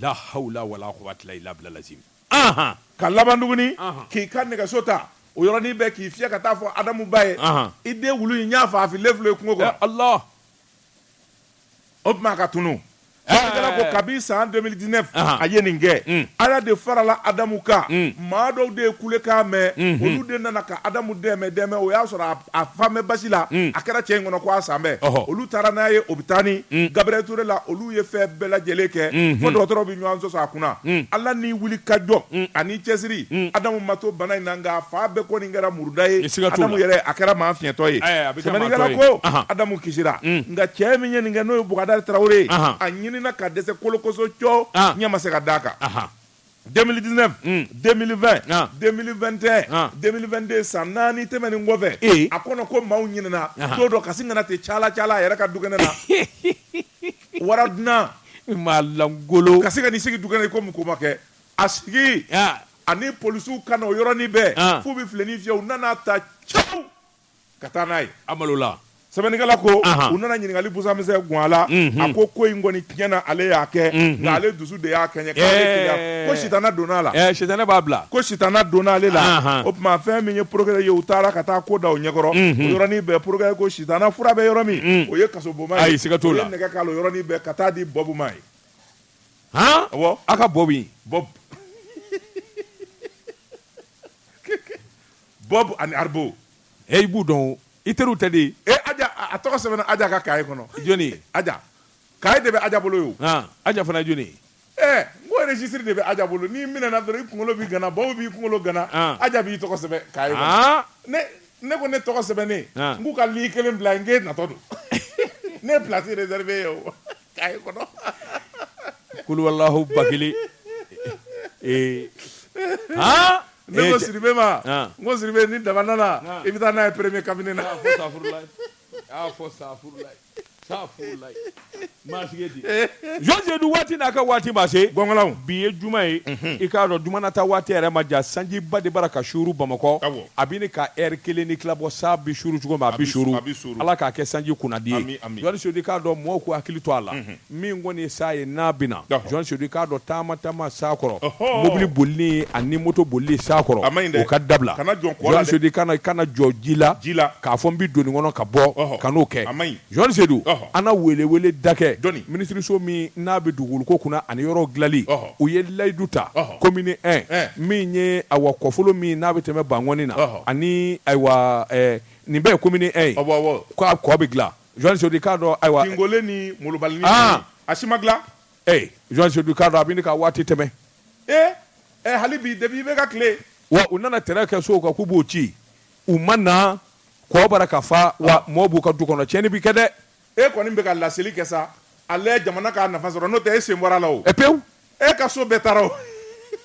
La hawla wa la quwata ila billah al aziim. Anhan! Ka laban tuguni, anhan, k'i ka nɛgɛso ta o yɔrɔnin bɛɛ k'i fiyɛ ka taa fɔ Adamu ba ye, anhan, i den wulu in n y'a faa a fililen filɛ kungo kɔnɔ. Ya Allah! O tuma ka tunun. Sɛbɛnnikɛla ko kabi san 2019, anhan, a ye nin kɛ. Un! Ala de farala Adamu kan. Un! Maa dɔw de ye kulekan mɛn. Unhun! Olu de nana ka Adamu dɛmɛ dɛmɛ, o y'a sɔrɔ a a fan bɛɛ basi la a kɛra cɛ in kɔnɔ ko a salen bɛ Ɔhɔ. olu taara n'a ye ɔpitali Gabriel Toure la olu ye fɛn bɛɛ lajɛlen kɛ fo dɔgɔtɔrɔw bɛ ɲɔgɔn sɔsɔ a kunna Ala ni wuli ka jɔ ani cɛsiri Adamu ma to bana in na nka a fan bɛɛ kɔni kɛra muruda ye Siga t'o la. Adamu yɛrɛ a kɛra maa fiɲɛtɔ ye Ayi, a bɛ kɛ maa sɛbɛnnikɛla tɔ ye. ko Ahan. Adamu kisira nka cɛ min ye nin kɛ n'o ye Bukadari Tarawele ye Ahan. a ɲinina ka dɛsɛ kolokoso cɔ Ahan. ɲɛ ma se ka d'a kan Ahan. 2019 2020 Ah. 2021 Ah. 2022 san naani tɛmɛnen kɔfɛ Eh. a kɔnɔ ko maaw ɲinɛna Aha. don dɔ ka sin ka na ten cala cala a yɛrɛ ka dukɛnɛ na wara dunan maa lankolon ka sin ka n'i sigi dukɛnɛ i komi ko ma kɛ a sigi Ah. ani polisiw ka na o yɔrɔnin bɛɛ Ah. f'u bɛ filenin fiyɛ u nan'a ta caw ka taa n'a ye a malola sɛbɛnnikɛla ko u nana ɲininkali busamisɛn gun a la a ko ko in kɔni tiɲɛ na ale y'a kɛ nka ale dusu de y'a kɛɲɛ ko sitana donna a la sitana b'a bila ko sitana donna ale la o tuma fɛn min ye porokirɛri ye u taara ka taa ko da o ɲɛkɔrɔ o yɔrɔnin bɛɛ porokirɛri ko sitana fura bɛ yɔrɔ min o ye kasobonba ye siga t'o la nɛgɛ k'a la o yɔrɔnin bɛɛ ka t'a di bɔbu ma yen aw ka bɔbu Bob ani Arbo. Ee i b'u dɔn o, i teriw tɛ de? Ee Aja, a tɔgɔ sɛbɛnna Aja ka kaye kɔnɔ. Jɔni ye? Aja. Kaye de bɛ Aja bolo yen o. Han, Aja fana ye jɔni ye? Ee, n ko registre de bɛ Aja bolo, n'i minɛna dɔrɔn i kunkolo bi gana, Bob b'i kunkolo gana, Aja b'i tɔgɔ sɛbɛn kaye kɔnɔ. Ne ko ne tɔgɔ sɛbɛnnen, n k'u ka ligne kelen bila yen, n k'e natɔ don. Ne ye place reserver e ye o. Kulubalilahku ba kelen ne ko sidibe ma ko sidibe ni daba nana i bɛ taa n'a ye premier cabinet na jɔndu waati n'a ka waati ma se bi ye juma ye i k'a dɔn jumana taa waati yɛrɛ man jan sanjiba de bara ka suru bamakɔ a bɛ ɲini ka ɛri kelen ni tila bɔ sa bi suru cogo min a bi suru ala k'a kɛ sanji kunnandi jɔn Seydu k'a dɔn mɔgɔw k'u hakili to a la min kɔni ye san ye n'a bɛ na jɔn Seydu k'a dɔn taama taama san kɔrɔ mobili boli ani moto boli san kɔrɔ o ka dabila Seydu kana jɔ ji la k'a fɔ n bɛ don nin kɔnɔ ka bɔ kan'o kɛ jɔn Seydu an na weleweleda kɛ minisiriso min n'a bɛ dugukolo kunna ani yɔrɔ dilanli u ye layidu ta commune 1 min ye awa kɔfolo min n'a bɛ tɛmɛ Bankɔni na ani ayiwa nin bɛɛ ye commune 1 ye awɔ awɔ ko a kɔ bɛ dilan jɔn Seydu k'a dɔn ayiwa Tingole ni Molobalini aa a si ma dilan ee jɔn Seydu k'a dɔn a bɛ ɲini ka waati tɛmɛ ee ɛ hali bi depuis i bɛ ka tile wa u nana tɛrɛ kɛ sow kan k'u b'o ci u ma na kɔ bara ka fa wa mɔɔw b'u ka du kɔnɔ tiɲɛni bɛ kɛ dɛ E kɔni bɛ ka laseli kɛ sa a la jamana k'a nafa sɔrɔ n'o tɛ e sen bɔra la o. Ɛ pewu. E ka so bɛɛ taara o.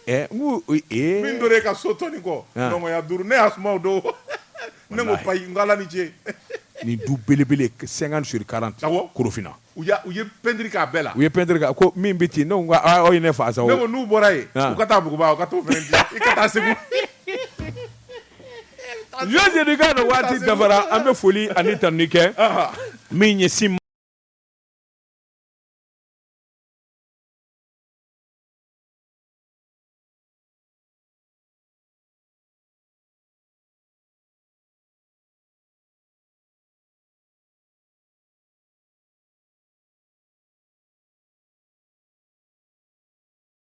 Ɛ n ko ee. Min tora e ka so tɔni kɔ. An. Nɔngɔnya duuru ne y'a suma o don. Walahi. Ne ko payi n ko Ala ni ce. Nin du belebele 50 sur 40. Awɔ. Korofina. U y'a u ye peinture kɛ a bɛɛ la. U ye peinture kɛ a ko min bɛ ci ne ko n ko aa aw ye ne faa sa o. Ne ko n'u bɔra yen. An. U ka taa Buguba u ka t'o fana dilan i ka taa Segu. Jɔn Seydu k'a dɔn waati dafara an bɛ foli ani tanuni kɛ min ɲɛsin